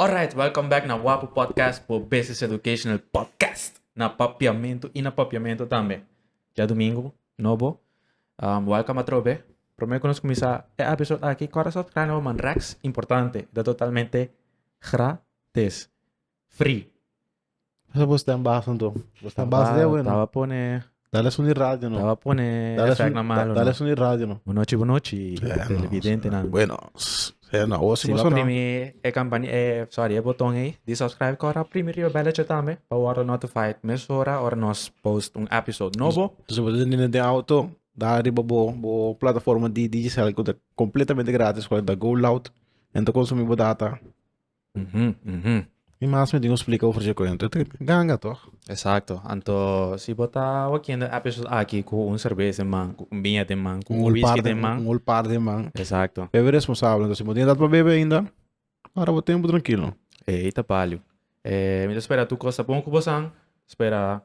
Alright, welcome back na Wapu Podcast por Business Educational Podcast. Na papiamento y na papiamento tambe. Ya domingo, nobo. Um, welcome atrobe. Prometo que nos comienza el episodio aquí. Cora subscribe no man Rex, importante. Da totalmente gratis. Free. Esa bo sta en bas anto. Bo sta en bas de bueno. Taba pone. Dale a suni radio no. Taba pone Dale a effect suni, na malo. dale a no. suni radio no. Bunochi, bunochi, Eh, televidente no. nan. Bueno, s- eh, no, o si Si bo no sonó. primi e campani e sorry e boton ei di subscribe cora primi riba belletje tambe pa wordo notified mes hora ora nos post un episode nobo. Dus bo den den den auto, da riba bo bo plataforma di Digicel ku ta completamente gratis ku ta go loud en ta consumi bo data. Ujú, ujú. Mi mas me tin un splika over dje kuento. E ta ganga toch? Exacto. Anto, si bo ta wakiendo e episode aki cu un cerveza den man, cu un biña den man, cu un whisky den man. Un whole par de man. Exacto. Bebe responsable. Entonces, si bo tin edat pa bebe ainda, para bo tempo trankilo. Ey, ta palio. Eh, mi ta spera tur cos ta bon cu bosan. Spera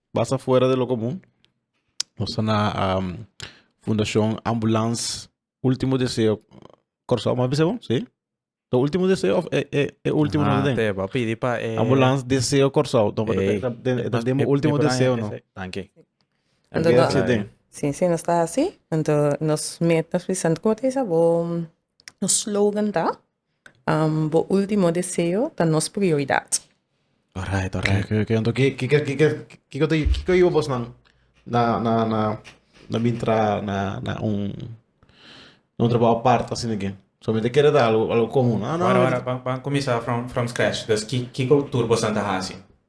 Basa fuera de lo común. Nos ta na um, Fundación Ambulance Último Deseo. Corsao, mas beseo? Sí. Lo último deseo of eh, eh, eh último no den. Te va pidi pa eh. Ambulance Deseo Corsao. No, eh, eh, eh, eh, demo último deseo no. Thank you. Entonces, no, sí, den. Sí, sí, nos ta así. Entonces, nos met nos Vicente como te dice, bo, nos slogan ta. Bo ultimo deseo ta nos prioridad. Alright, alright. Oké, oké. Anto, ki- kiko kiko kiko ta kiko iba bosnan na na na na bintra na na un na un trabajo apart asina ke? Solamente kere ta algo algo komun. Ah, no, Wara no, wara, pan pan kuminsá from from scratch. Dus ki kiko tur bosnan ta hasi?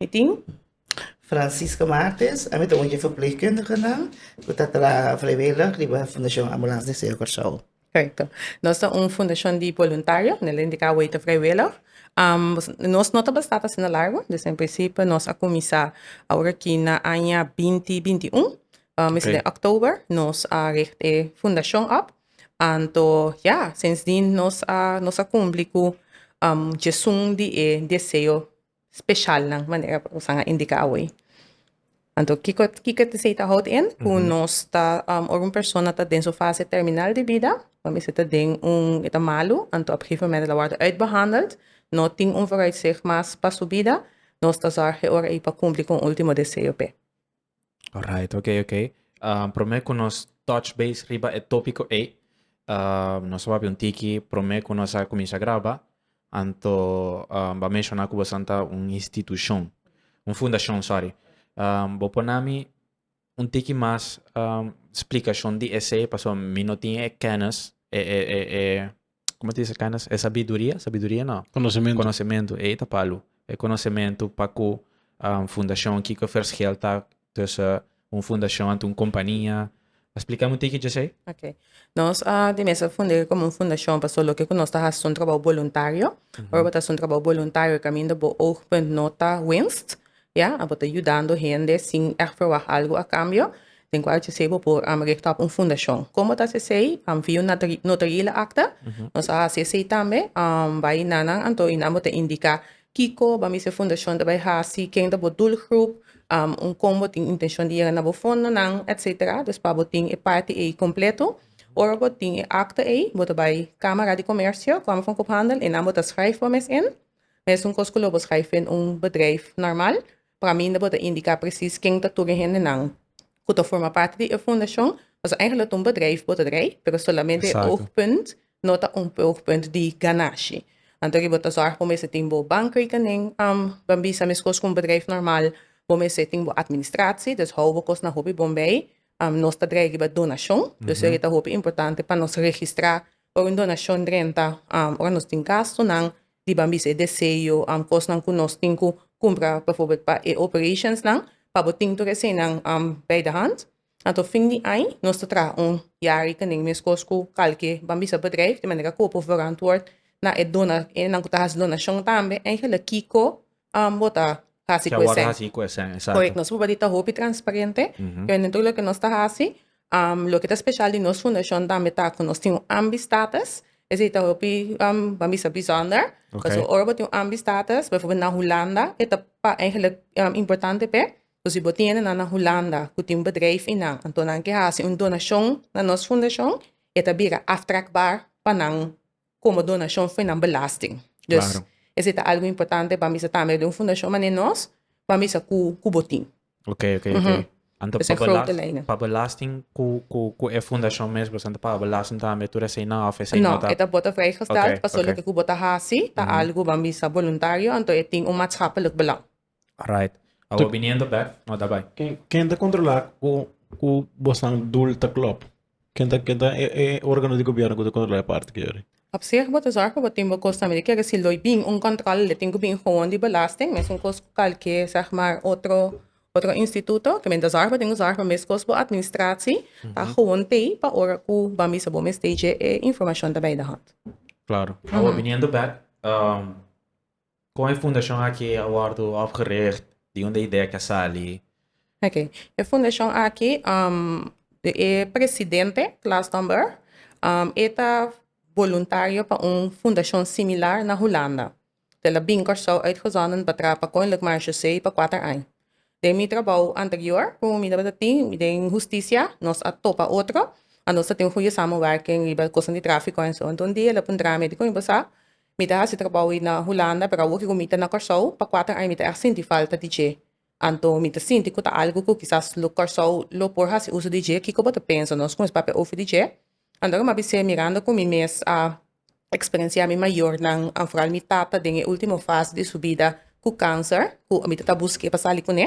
Mi tin Francisca Martes, ami ta un di ferpleegkundigenan ku ta traha vrijwillig riba Fundashon Ambulans di Seo Kòrsou. Correcto. Nos ta un fundacion di voluntario, nel indica awey ta vrijwillig. Nos no ta basta pa asina largo, dus en principio nos a cuminsa awor aki na aña binti binti i un, mester den october nos a richt e fundacion op, anto ya, sindsdien nos a cumpli cu djesun di e deseo specialnan manera Roxanne a indica awe. Anto kiko kiko te sei ta hold in ku nos ta um, or un persona ta den su fase terminal di vida, pa mi se ta den un e ta malu, anto op gegeven moment la word uitbehandeld, no tin un vooruitzicht mas pa su vida, nos ta zorg e ora ei pa kumpli ku un ultimo deseo pe. Alright, ok, ok. Um, promé ku nos touch base riba e tópiko ei. Um, nos wapi un tiki promé ku nos a kuminsha graba. Anto um, ba menshona ku bosan ta un institushon. Un fundashon, sorry. Um, bo por nami un tiki mas um, splikashon di esei paso mi no tin e kennis, e, e, e, e como te dice canas e sabiduria sabiduria no conocimento conocimento ei ta palu e conocimento pa cu um, fundacion Kiko Verscheel ta tussen un fundacion anto un compania explicame un tikje dje okay nos a di mesa fundere como un fundacion paso loke cu nos ta haci son trabajo voluntario ora bo ta haci un trabajo voluntario caminda bo oogpunt no ta winst Ya, abo ta yudando hende sin ègt verwagt algu a kambio, den kua HCC bo por richt òp un fundashon. Komo ta HCC? Via un notarile akta, nos a hasi esei tambe, bai na nan anto i nan bo ta indiká kiko bo a mester e fundashon ta bai hasi, ken ta bo dulgrup, un kon bo tin intenshon di yega na bo fondonan, etsetera. Dus pa bo tin e parti ei kompleto, ora bo tin e akta ei, bo ta bai Kamara di Komersio, Kamer van Koophandel, i nan bo ta skrèf bo mes in. Mesun kos ku lo bo skrijf den un bedrijf normal, praminda bo ta indiká presis ken ta tur e hendenan ku ta forma parti di e fundashon. Pasobra eigentlik ta un bedrijf bo ta drei, pero solamente e oogpunt no ta un oogpunt di ganashi. Anto bo ta sòrg bo mester tin bo bankrekening, ban bisa meskos ku un bedrijf normal. Bo mester tin bo administratie, dus hou bo kosnan hopi bon bei. Nos ta drijf riba donashon, dus ere ta hopi importante pa nos registrá Por un donashon renta ora nos tin gastunan di ban bisa e deseo, kosnan ku nos tin ku kumpra befòrbèl pa e operashonsnan, pa bo tin tur eseinan bai de hant. Anto fin di aña nos ta traha un yari kenden meskos ku kalke ban bisa bedrijf, di manera ku bo por verantwòrd na e dona, e nan ku ta hasi donashon tambe, Angela, Kiko, Ambo ta hasi ku esèn. Korèk, nos pruba di ta hopi transparente. Pero den tur loke nos ta hasi, loke ta speshal di nos fundashon tambe ta ku nos tin un ambistatus. Esei ta hopi, ban bisa, bisònder. Pasobra ora bo tin un ambistatus, beiforbeeld na Hulanda, e ta eigenlijk importante p'e. So si bo tiene nan na Hulanda ku tin bedrijf einan, anto nan ke hasi un donashon na nos fundashon, e ta bira aftrakbaar pa nan. komo donashon fu nan belasting. Dus esei ta algu importante pa bisa tambe den un fundashon manera nos pa bisa ku ku bo tin. Ok ok ok. Anto pa belasting pa belasting ku ku ku e fundashon mes pues anto paga belasting tambe tur esei nan of esei no ta. No e ta bota vrijgesteld paso loke ku bo ta hasi ta algu ban bisa boluntario anto e tin un matschappelijk belang. Right. Awor biniendo bek, no ta bai. Ken, ken ta controla cu, cu bosnan doel ta klop? Ken ta, ken ta e, e organo di gobierno cu ta controla e parti ki yori? Op zich bo ta zorg pa bo tin bo cos tambe di kere si lo bin un controle lo tin cu bin gewoon di belasting mesun cos cu calke zeg maar otro otro instituto ke men ta zorg bo tin cu zorg pa mescos bo administratie ta gewoon tey pa ora cu ban bisa bo mester dje e informacion ta bay de hand. Claro. Awor biniendo bek, um, Kon e fundashon aki a wòrdu opgericht? Di unda e idea aki a sali? Oke, e fundashon aki e presidente, Klaas Tomberg, e ta boluntario pa un fundashon similar na Hulanda. Tel a bini Kòrsou uit Gezonden pa traha pa Koninklijk Marechaussee pa kuater aña. Den mi trabou anterior ku mi tabata tin den hustisia nos a topa otro, a nos ta tin un gudie samenwerking riba kosten di trafiko en so. Enton di el a puntra mi, Di kon yu bo sa? Mi ta hasi trabou ei na Hulanda, pero awor ku mi ta na Kòrsou pa kuater aña mi ta èg sinti falta di dje. Anto mi ta sinti ku ta algu ku kisas lo Kòrsou lo por hasi uso di dje. Kiko bo ta pensa? Nos kumes papia ofi di dje? Anto mi a bis'é mirando ku mi mes a eksperensiá mi mayornan, an foral mi tata den e último fas di su bida ku kanser, ku mi ta ta busk'é pa sali kuné.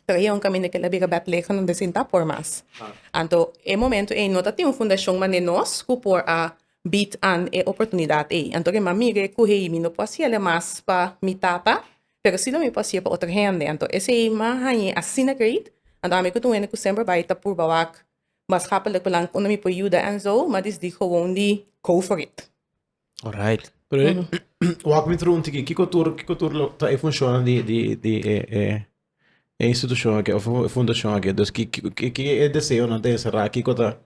Pero e un kaminda kila bira Bètlehem unda sinta por mas. Anto e momentu ei no tatin un fundashon mané nos ku por a Bid an e oportunidat ey. Anto ri mami ri cu hey mi no por haciele mas pa mi tata, pero si lo mi por hacie pa otro hende. Anto esey ma hañe asina great. Anto ami cu ta un hende cu semper bay ta purba wak mas happelijk pa nan unda mi por yuda en zo, ma dis di gewoon di go for it. Alright. Pero wak mi trunti ki kico tur kico tur lo ta e funciona di di di e e. e institucion aki of e fundacion aki dus ki ki e deseonan ta encerra kiko ta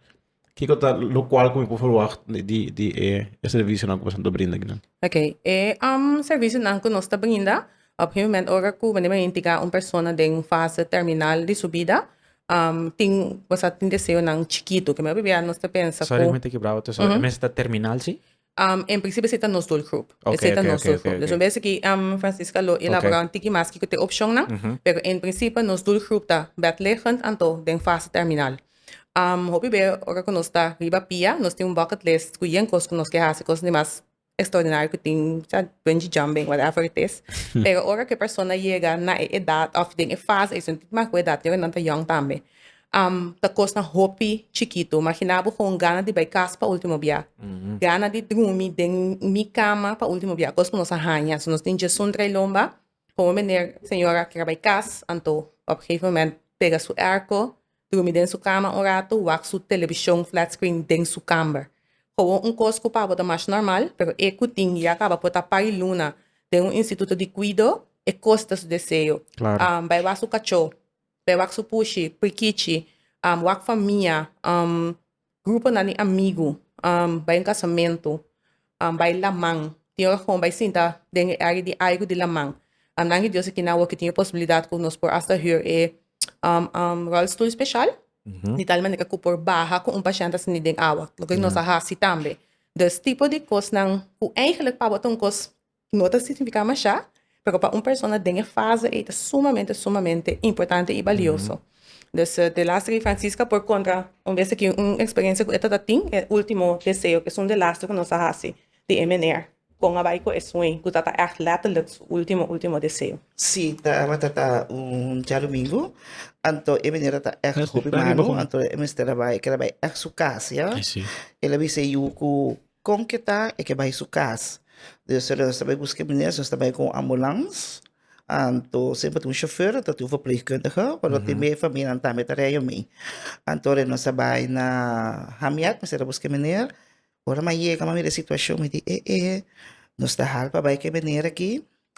kiko ta lo cual cu mi por verwacht di di e e servicionan cu boso ta brinda aki nan. Ok, e um servicionan cu nos ta brinda op e moment ora cu bo nimer identica un persona den un fase terminal di su bida um tin boso a tin deseonan chikitu ke mi a pipia nos ta pensa cu. Sorry mi ta kibrabo tu so e mes ta terminal si? Um, en principio esei ta nos doel groep. Okay, esei ta okay, nos okay, doel okay, groep. Okay, okay. Dus okay. um, Francisca lo elabora okay. un tiki mas kiko te opcionnan, mm -hmm. pero en principio nos doel groep ta bedliggend anto den fase terminal. Um, hopi be, ora que nos ta riba pia, nos tin un bucket list cu yen cos cu nos ke hasi, cos ni mas extraordinario que tin, ja, bungee jumping, whatever it is. pero ora que persona llega na e edad, of den e fase, es un tiki mas cu edad, yo que non ta young tambe. am, ta kos na hopi chikitu. Magina bo kon gana di bai kas pa ultimo bia. Gana di drumi den mi kama pa ultimo bia. Kos ku nos a haña. So nos tin Djesun drai lomba. Komo meneer, señor a kere bai kas, anto op e gegeven moment pega su èrko, drumi den su kama un ratu, wak su televishon flat screen den su kamber. Komo un kos ku pa bo ta mas normal, pero e ku tin i a kaba por ta pari luna den un instituto di kuido, e kos ta su deseo. Am, bai wak su kachó. Pe wak su pushi, prikichi, wak famia, gruponan di amigu, bai un kasamentu, bai laman, tin ora ku bo bai sinta den e área di aigu di laman, nan di Dios a kina bo ku tin e posibilidat ku nos por hasta hür e rolstoel speshal di tal manera ku por baha ku un pashènt a sinti den awa, loke nos a hasi tambe. Dus tipo di kosnan ku eigèlèk pa bo ta un kos No ta significa mashá, pero pa un persona den e fase ei ta sumamente, sumamente importante y balioso. Dus de laster di Francisca por contra un bes aki un experiencia cu e tabata tin, e ultimo deseo, cu esun de laster cu nos a haci di e meneer con a bai cu e sueño, cu tabata echt letterlijk su ultimo, ultimo deseo. Sí, tabata ta un djadomingo, anto e meneer tabata echt hopi malo, anto e mester a bai, kel a bai echt su cas, ya. El a bisa e yu cu. Kon ke ta e ke bai su kas. Deo solo nos ta bai buska e maner si nos ta bai ku un ambulans anto semper ta un shofèr anto ta tin un verplegkundige o lo tin be famianan tambe ta rei ami. Anto are nos a bai na Hamiet mester a buska e maner ora mi a yega mi a mira e situashon mi di e e nos ta hal pa bai ku e maner aki.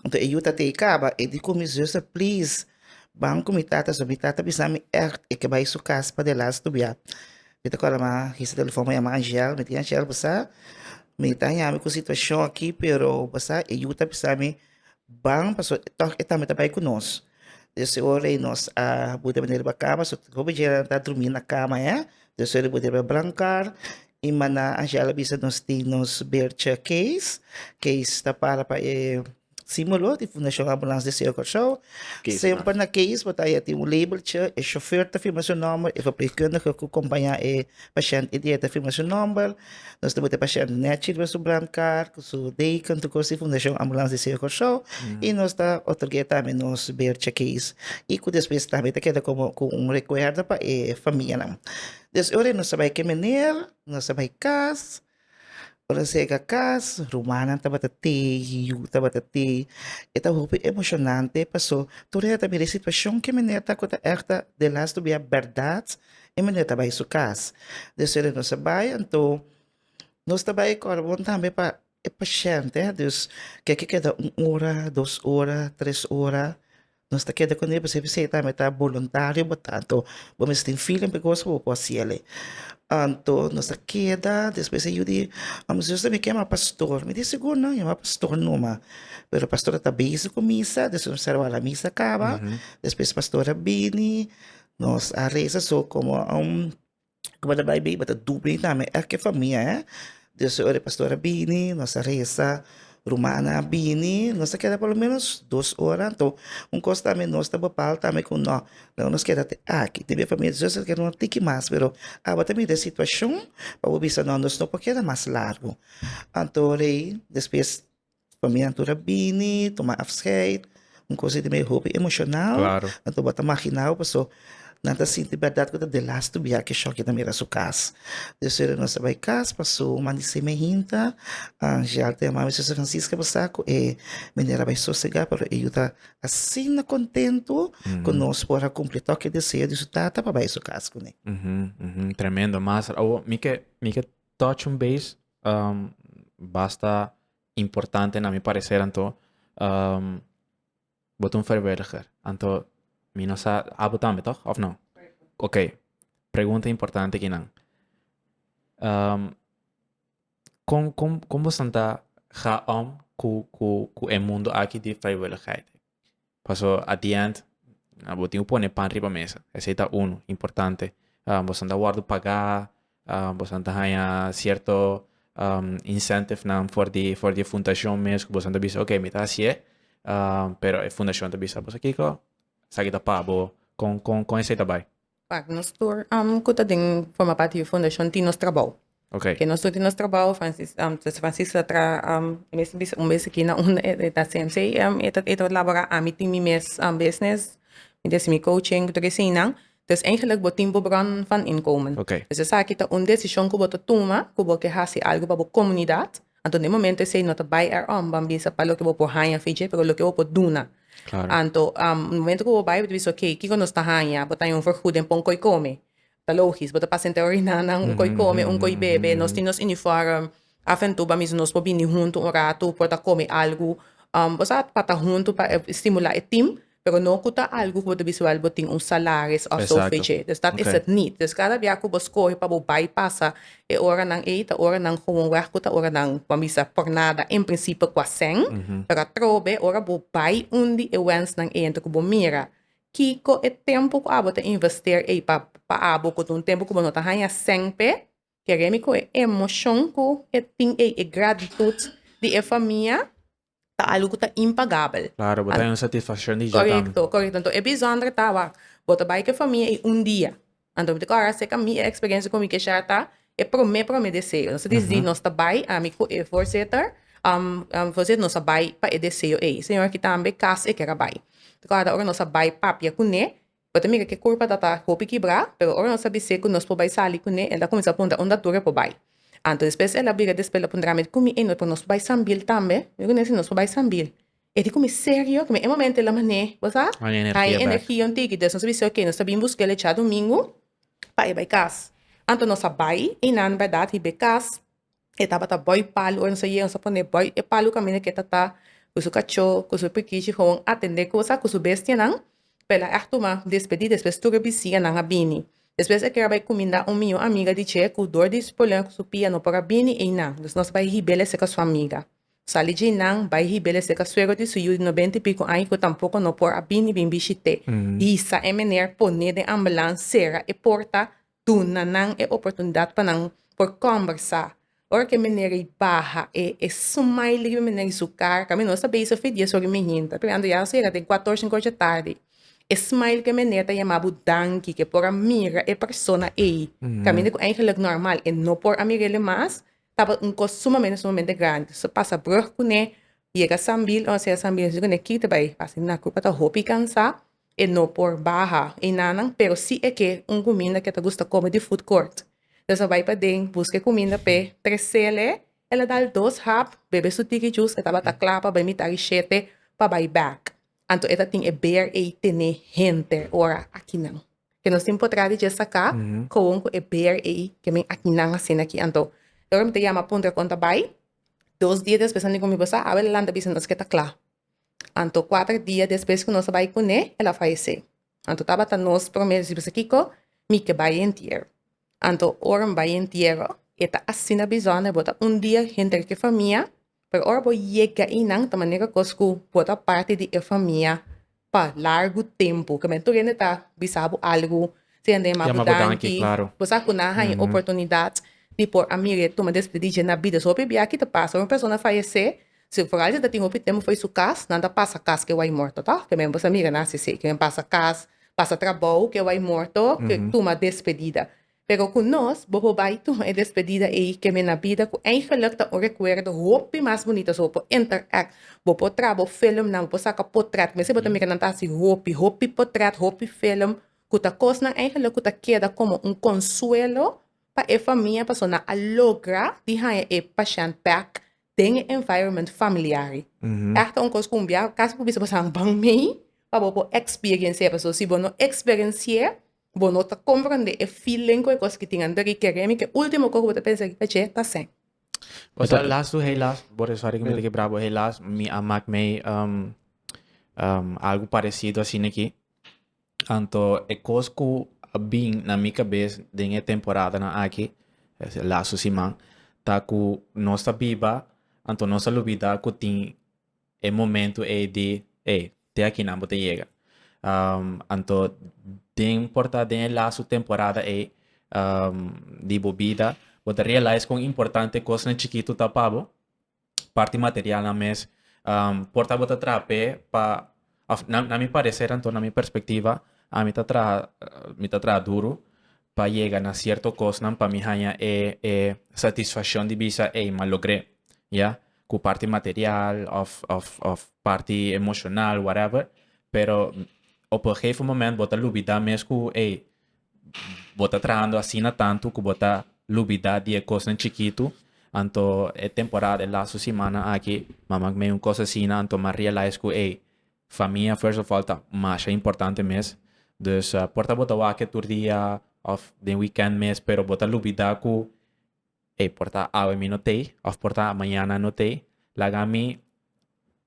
Nto e yu tata ei kaba e di ku mi zuster, Please, ban ku mi tata so. Mi tata bisa mi ègt e ke bai su kas pa Delhas stubiá. Mi ta kòrda mi a hisa telefòn, mi a yama Angèl, mi di, Angèl, bo sa mi ta haña mi ku situashon aki, pero bo sa e yu ta bisa mi ban pasobra tòg e tambe ta bai ku nos. Dje su ora i nos a buda manera riba kama, so hopi djenan ta drumi na kama e, dje su ora i buda riba brankar i mana Angel a bisa nos tin nos beertje Kees, Kees ta para pa e simbolo di Fundashon Ambulans di Seo Kòrsou, Kees semper na Kees bo ta haya tin un labeltje, e shofèr ta firma su nòmber, e verpleegkundige ku kompañá e Pashènt e dieta firma su nòmber. Nos ta bot'é pashènt nèt shirba su brandkaart ku su deken tukor si Fundashon Ambulans di Seo Kòrsou i nos ta otorg'é tambe nos beertje keys i ku despues tambe ta keda komo ku un rekuerdo pa e famianan. Des ora nos ta bai kemeneer, nos ta bai kas. Ora nan sega cas rumannan tabata tei yiu tabata tei e ta hopi emocionante paso tur hende ta mira e situacion ke mene ta cu ta echt ta den las tu bia berdad y mene ta bay su cas dus ora nos a bay anto nos ta bay cor bon tambe pa e pashente dus ke a keda un ora dos ora tres ora Nos ta keda kuné pasobra esei tambe ta boluntario bo tantu bo mester tin feeling p'e kos ku bo por hasiel ei. Anto nos ta keda despues e yu di amo siñor tambe kema pastor mi di sigur nan yama pastor numa pero pastor a ta bezi ku misa despues mi sarbá la misa kaba despues pastor a bini nos a resa so komo. Cu bo ta bai bay, bo ta dubri na mi elke famia, eh. Dios e ora e pastor a bini, nos ta reza, rumannan a bini, nos ta keda por lo menos dos ora. Anto, un cos tambe nos ta bapal tambe cu no, dor nos keda te aki. Tin e famia di Dios el ken ron tiki mas, pero abo ta mira e situacion, pa bo bisa no, nos no por keda mas largu. Anto rei, despues, Famia anto ta bini, tuma afscheid, un cosa ei ta bini hopi emocional. Claro. Nan ta wak marginado, paso nan ta sinti berdad cu ta den lastu biaha cu e shock ei ta mira su cas. Dios ora nos a bai cas, paso un man di seme hinta, Angel ta yama mi Sister Francisca pa sa cu e meneer a bai sosega, pero e yu ta asina contento cu nos por a cumpli toki e deseo di su tata pa bai su cas cune. Tremendo, Master. Awo, mi ke, mi ke touch un bes um, basta importante na mi parecer anto um, bot un vrijwilliger anto mi no sa abo tambe toch of no ok pregunta importante ki nan um, kom kom kom bo santa ga om ku ku ku e mundo aki di vrijwilligheid Paso at the end bo tin cu pone pan riba mesa esey ta uno importante boso ta wordo paga boso ta haya cierto incentivenan for di for di fundacion mes cu boso ta bisa ok mi ta haciye pero e fundacion ta bisa boso kico esaki ta pa bo con con esey ta bay. Par nos tur ku ta den forma parti di fundashon tin nos trabou. Okay. Ke nos tur tin nos trabou, Francis, um, Sister Francis ta tra um, e mes bisa un bes aki na un e, e ta CMC, um, e ta e ta labora ami tin mi mes um, business, mi des mi coaching, ku tur eseinan. Dus eigenlijk bo tin bo bron van inkomen. Okay. Dus esaki ta un desishon ku bo ta tuma ku bo ke hasi algu pa bo komunidat. Anto den momento esei no ta bai er om ban bisa pa loke bo por haña fi dje pero loke bo por duna. Anto momento ku bo bai bo ta bisa ok kiko nos ta haña bo ta haña un vergoeding pa un koi kome ta logisch bo ta pasa entre orinanan un koi kome un koi bebe nos tin nos uniform af en tu bamiso nos por bini huntu un ratu por ta kome algu bo sa pa ta huntu pa estimula e team. Pero no cu ta algo cu bo ta bisa wel bo tin un salaris of zo fe dje. Dus dat is het niet. Dus cada bia cu bo scoge pa bo bay pasa e oranan ey ta oranan gewoon weg cu ta oranan bo a bisa por nada en principio cua sèn. Pero atrobe ora bo bay undi e wensnan ey anto cu bo mira kico e tempo cu abo ta invester ey pa pa abo cu ta un tempo cu bo no ta haya sèn p'e kere mi cu e emocion cu e tin ey e gratitud di e famia ta algu cu ta impagabel. Claro, bo ta den satisfaccion di dja tambe. Correcto, correcto. Enton e bijzonder ta, wak, bo ta bay cu e famia y un dia. Anto mi ta kora acerca mi e experiencia cu mi ke share ta e prome, prome deseo. Nos ta decidi nos ta bay, ami cu e voorzitter, voorzitter, nos a bay pa e deseo ey. Señor aki tambe cas e kera bay. Mi ta kora ta ora nos a bay papia cune, Bo ta mira ke kurpa ta ta hopi kibrá, pero ora nos a bis'é ku nos por bai sali kuné, el ta kuminsá a punta unda tur e por bai. Anto despues el a bira despues el a puntra mi, Kumi ei no e por nos por bai sambi'l tambe? Mi kuné si nos por bai sambi'l. E di ku mi, Serio? Kumi e momento el a man'é, bo sa, haña energia un tiki. Despues nos a bis'é, Oké, nos ta bin busk'el e djadumingu pa e bai kas. Anto nos a bai, einan bèrdat, riba e kas. e tabata bòi palu, ora Señor a pone bòi e palu kaminda ke tata ku su kachó, ku su pikichi komo atendé kusa ku su bestianan, p'e la èg tuma despedí, despues tur e bisianan a bini. Despues e kere bai kuminda un mió amiga di dje ku dor di su problema ku su pia no por a bini einan, dus nos bai hibel e seka su amiga. Sali dje einan, bai hibel e seka suegro di su yu di nobenta i piku aña ku tampoko no por a bini bin bishit'é. Hisa e mener, poné den ambulan, sera e porta. Duna nan e oportunidat pa nan por kòmbersá. Ora ku e meneer ei baha, e e suma ei liki mi meneer i su kar, kaminda nos ta bese f'e dia sorry mihin, ta pregando ya nos ta yega den kuator, sinku ocho tardi. E smile ku e meneer ta yama bo danki ke por a mira e persona ei, kaminda ku eigenlijk nòrmal e no por a mir'ele mas, tabata un kos sumamente sumamente grandi. So pasa brùg kuné, yega Sambil, ora nos yega Sambil nos dici kuné, kiti bai, pasa naku ku a ta hopi kansá. E no por baha einanan pero si e ke un kuminda ke ta gusta kome di food court. Los a bai paden, buska e kuminda p'e, tresel e, el a dal dos hap, bebe su tiki jus, e tabata kla pa bai mitá di shete pa bai bèk. Anto e ta tin e beer ei tene henter ora akinan. Ke nos tin por traha di dje saká kowon ku e beer ei ke men akinan a sina aki. Anto e ora mi ta yama puntra kon ta bai, dos dia despues nan tin ku mi basa, awe el a lanta bisa nos ke ta kla. Anto kuater dia despues ku nos a bai kuné, el a fayesé. Anto tabata nos promé disipu a bisa, Kiko, mi ke bai e entiero. Anto ora mi bai e entiero, e ta asina bizó n'e bota un dia henter ku e famia, pero ora bo yega einan ta manera kos ku bo ta parti di e famia pa largu tempu. Ke men tur hende ta bisa bo algu, si hende a yama bo danki, bo sa ku nan a haña oportunidat di por a mir'é tuma despedí dje na bida. So hopi bia aki ta pasa, ora un persona fayesé, Si Francia ta tin hopi tempo fo'i su cas, nan ta pasa cas ke wai morto toh, ke men bosa mira nan así sí, ke men pasa cas, pasa trabou ke wai morto, ke tuma despedida. Pero cu nos bo por bai tuma e despedida ei ke mi na bida cu eigenlijk ta un recuerdo hopi mas bunito, so bo por interact, bo por traha bo filmnan, bo por saca potret, mester bo ta mira nan ta haci hopi, hopi potret, hopi film cu ta cosnan eigenlijk cu ta keda como un consuelo pa e famia pasobra nan a logra di haya e pashènt back den e environment familiar ei. Echt ta un kos ku un bia kas por bisa bo sa ban mei pa bo por experienci'e. Paso si bo no experienci'e, bo no ta comprende e feeling ku e kos ki tin ander ei. Kere mi ku e ultimo kos ku bo ta pensa riba dje ta sèn. O sea, las tu helaas, por e sòri ku mi ta kebra bo, helaas mi a mak mei algu paresido asina aki. Anto e kos ku a bin na mi kabes den e temporadanan aki, e lasu siman, ta ku nos ta biba, anto nos a lubidá ku tin e momentu ei di ey, te aki nan bo ta yega. Anto den por ta den e lasu temporada ei di bo bida, bo ta realize kon importante kosnan chikitu ta pa bo. parti materialnan mes por ta bo ta traha p'e pa òf na na mi pareser anto na mi perspectiva ami ta traha mi ta traha duru pa yega na cierto cosnan pa mi haña e e satisfaccion di bisa ey m'a logr'é ya cu parti material òf òf òf parti emocional whatever pero op e gegeven moment bo ta lubida mes cu ey bo ta trahando asina tantu ku bo ta lubidá di e kosnan chikitu. Anto e temporada, e lastu simana aki, mama meyo un kos asina, anto m'a realize ku ey, famia first of all ta masha importante mes. Dus por ta bo ta wak tur dia òf den weekend mes, pero bo ta lubidá ku Ey, por ta awe mi no tey, of por ta mañana no tey, laga mi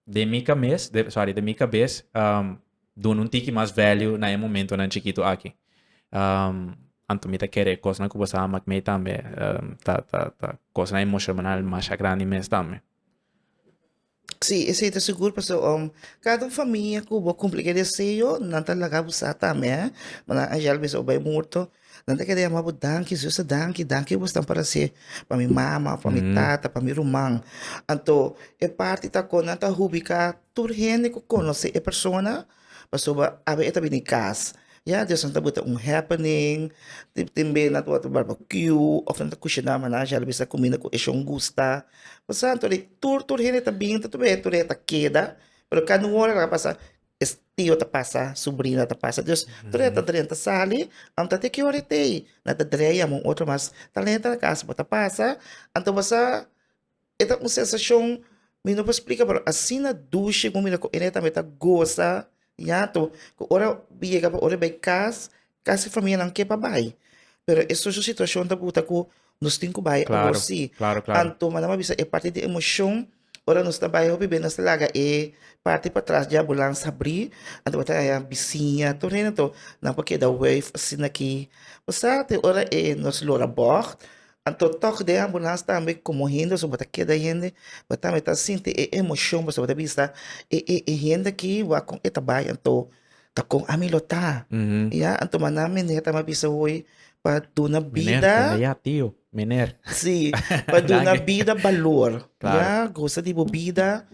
den mi kames, de, sorry, den mi kabes um, duna un tiki mas value na e momentonan chikitu aki. Um, anto mi ta kere e kosnan ku bo sa mak mi tambe, um, ta, ta, ta kosnan emoshonal masha grandi mes tambe. Sí, esei ta sigur pasobra um cada un famia cu bo cumpli e deseo nan ta laga bo sa tambe eh ma nan a yal mester a bai morto nan ta keda yama bo danki señor Jesus danki danki bo stan para hacer pa mi mama pa mi tata pa mi ruman anto e parti ta con nan ta hubica tur hende cu conoce e persona pasobra awe e ta bini cas ya Dios no ta bota un happening tin tin be nan ta wak barbakiu of nan ta kushina maná shal a bisa kuminda ku e shon gusta pues anto de tur tur hende ta bini ta tur hende tur hende ta keda pero kanda un ora a pasa es tio ta pasa subrina ta pasa Dios tur hende ta drenta sali am ta de ki ora e tei nan ta drea yama un otro mas talenta na cas bo ta pasa anto bosa E ta un sensashon, mi no por splika, pero asina dushi ku mi ta ku ene tambe ta gosa ñato, ku ora bo yega pa ora bai kas, kasi famianan ke pa bai, pero e socio situashon ta buta ku nos tin ku bai awor si, anto manda mi a bisa e parti di emoshon, ora nos ta bai hopi bes nos ta laga e parti patras di ambulansa habri, anto bo ta haña bisiña tur hende, nan por keda wave asina aki, pasá te ora e nos lora bòg. Anto tòg den ambulans tambe komo hende so bo ta keda hende bo tambe ta sinti e emoshon pasobra bo ta bisa e e e hende aki wak kon e ta bai anto ta kon ami lo ta ya anto mannan meneer tambe a bisa hoy pa duna bida si pa duna bida balor ya gosa di bo bida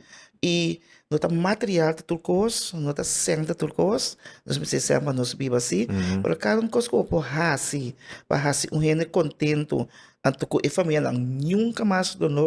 i No ta material ta tur kos, no ta sèn ta tur kos, nos mester sèn pa nos biba sí, pero kada un kos ku bo por hasi pa hasi un hende kontentu, anto ku e familianan nunka mas lo no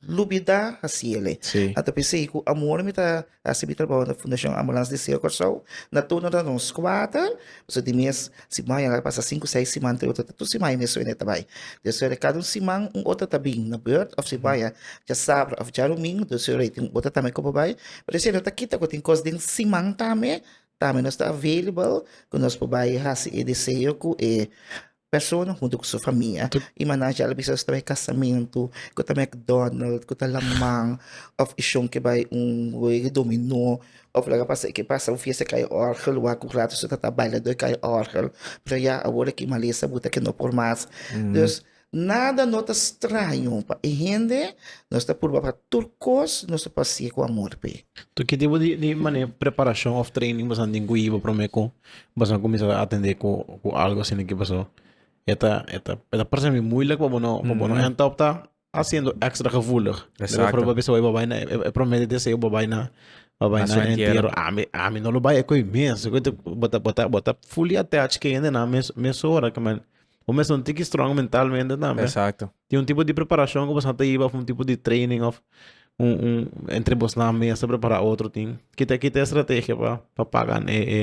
lubidá hasi el'e. Sí. A ta p'esei ku amor mi ta hasi mi trabou na Fundashon Ambulans di Seo Kòrsou, na turno ta nos kuater, pasobra di mes Si bo a yanga ta pasa sinku seis siman te otro ta tur siman y mes suene ta bai. Dos ora cada un siman un otro ta bin na beurt of si bo a yanga djasabra of djarumingu dos ora y tin un otro tambe cu bo bai. Pero esey no ta kita cu tin cos den siman tambe tambe nos ta available cu nos por bai haci e deseo cu e persona hunto cu su famia. Y mannan ya lo bisa nos ta bai casamentu cu ta McDonald cu ta La Mang of ishon ke bai un wega dominó. Of laga pasa e ke pasa un fiesta kai orgel wak un rato so tata baila doi kai orgel pero ya awor e kimalesa buta ke no por mas dus nada no ta straño pa e hende nos ta purba pa tur kos nos ta pasie ku amor p'e. Tu ki tipo di di mane preparashon of training boso a tin ku hiba prome ku boso a kuminsá ta atende ku ku algo asina ki paso e ta e ta e ta parse mi muilek pa bo no pa bo no enta op ta ta siendo extra gevoelig. Exacto. Lebe proba bisa wai bo bai na e, e promete deseo bo bai na bo bai Na na su entierro. entierro. Ami ami no lo bai e koi mes. Koi te bota bota bota fully attached ke hende na mes mesora ke man. Bo mes un tiki strong mentalmente tambe. Exacto. Tin un tipo di preparacion ku bosa ta iba of un tipo di training of un un entre bosnan mes ta prepara otro tin. Kita kita estrategia pa pa pagan e e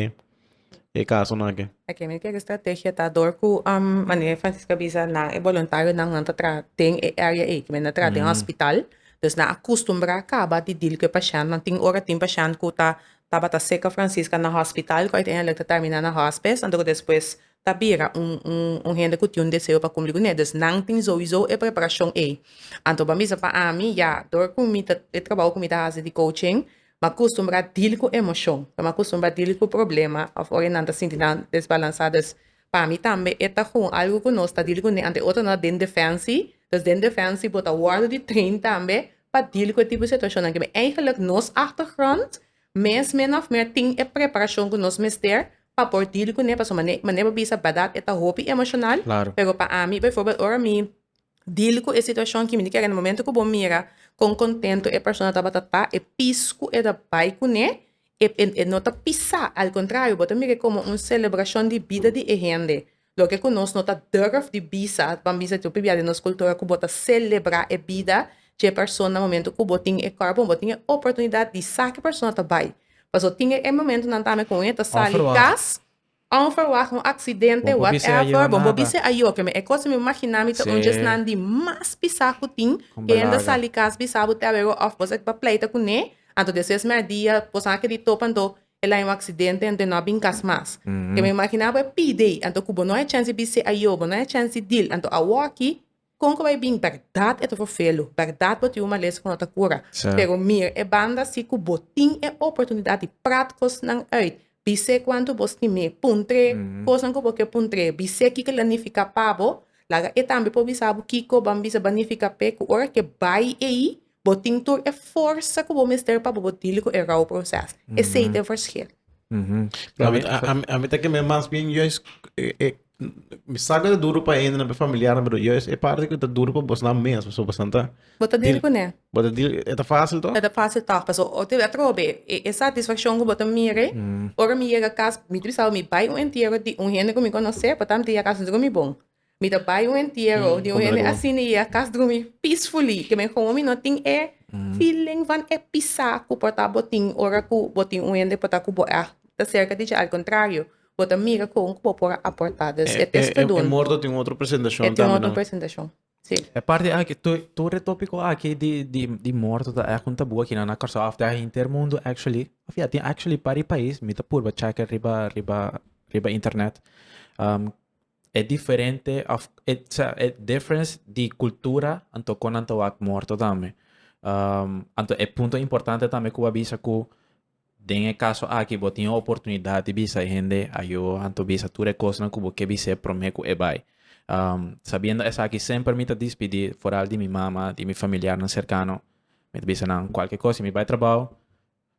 e kasonan aki. Aki mi kere strategia ta dor ku manera Francisco a bisa nan e boluntarionan nan ta traha den e área ei ku men a traha den hospital, pues nan a kustumbrá kaba di dil ku e pashènt nan tin ora tin pashènt ku ta tabata serka Francisca na hospital ku uiteindelik ta tèrmina na hòspes anto ku despues ta bira un hende ku tin un deseo pa kumpli kuné dus nan tin souizou e preparashon ei anto bo a bisa pa ami ya dor ku mi ta e trabou ku mi ta hasi di kouching M'a akustumbrá dil ku emoshon. Lo m'a akustumbrá dil ku problema òf ora e nan ta sinti nan desbalansá. Dus pa mi tambe e ta kon algu ku nos ta dil kuné ante otro nan ta den defensi. Dus den defensi bo ta wòrdu di train tambe pa dil ku e tipo di situashonnan kiba. Eigenlik nos achtergrond mes min òf mer tin e preparashon ku nos mester pa por dil kuné pasobra mané bo bisa bèrdat e ta hopi emoshonal. Pero pa ami bivoorbeeld ora mi Dil ku e situashon kimi di kere na momentu ku bo mira kon kontentu e persona tabata ta, e pis ku e ta bai kuné e no ta pisá, al kontrario bo ta mir'é komo un selebrashon di bida di e hende, loke ku nos no ta durf di bisa, ban bisa ta pibia di nos kultura ku bo ta selebrá e bida dje persona momentu ku bo tin e kòrp o bo tin e oportunidat di sa ki e persona ta bai. Pasobra tin e momentunan tambe ku un e ta sali kas Onverwacht, un aksidente, whatever, bon bo bis'e a yoke mi. E kos mi magina mi ta un djesnan di mas pisá ku tin, ku hende sali kas bisá bo te a wega òf bo sa ta pleita kuné, anto despues mèrdia boso a kere di topa anto e la un aksidente anto e no a bin kas mas. Ke mi magina bo e pide ei, anto ku bo no e chèns di bis'e a yo, bo no e chèns di dil, anto awor aki Kon ku bai bin? Bèrdat e ta for felu, bèrdat bo tin un malesa ku no ta kura. Pero mir e banda si ku bo tin e oportunidat di prat kosnan uit. Bis'é kuantu bo stim'é. Puntr'é kosnan ku bo ke puntr'é. Bis'é kiko el a nifiká pa bo. Laga e tambe por bisa bo kiko ban bisa ban nifiká p'e ku ora ke bai ei. Bo tin tur e forsa ku bo mester pa bo dili ku e rou proses. Esei ta e ferskil. A mi ta ke men mas bien juis mi sa ku ta duru pa hende na mi familiarnan pero juis e parti ku ta duru pa bosnan mes pasobra bosnan ta Bo ta dili ku ne. Bo ta dili e ta fásil tòg? E ta fásil tòg pasobra otro bes atrobe e satisfakshon ku bo ta mire ora mi yega kas mi disawe mi bai un entiero di un hende ku mi konosé por tantu mi yega kas mi ta gumi bon. Mi ta bai un entiero di un hende asina i a kas drumi peacefully. Ke men komo mi no tin e feeling van e pisa ku por ta botin ora ku bo tin un hende por ta ku bo a ta serka di dje. Al kontrario, bo ta mira kon ku bo por a aporta. Dus e testudun. E morto tin otro presentashon tambe, no? E tin otro presentashon, si. E parti aki, tur e topiko aki di morto ta èk un tabú akinan na Kòrsou after a henter mundu actually. Òf ya, tin actually pari pais, mi ta purba chèk'e riba riba riba internet. E diferente of e sa e difference di cultura anto kon nan ta wak morto tambe. Um, anto e punto importante tambe ku a bisa ku den e kaso aki bo tin oportunidad di bisa e hende ayo anto bisa tur e kosnan ku bo ke bis'é promé ku e bai. Um, sabiendo esaki semper mi ta dispidi foral di mi mama, di mi familiarnan serkano, mi ta bisa nan kualke kos si mi bai trabou,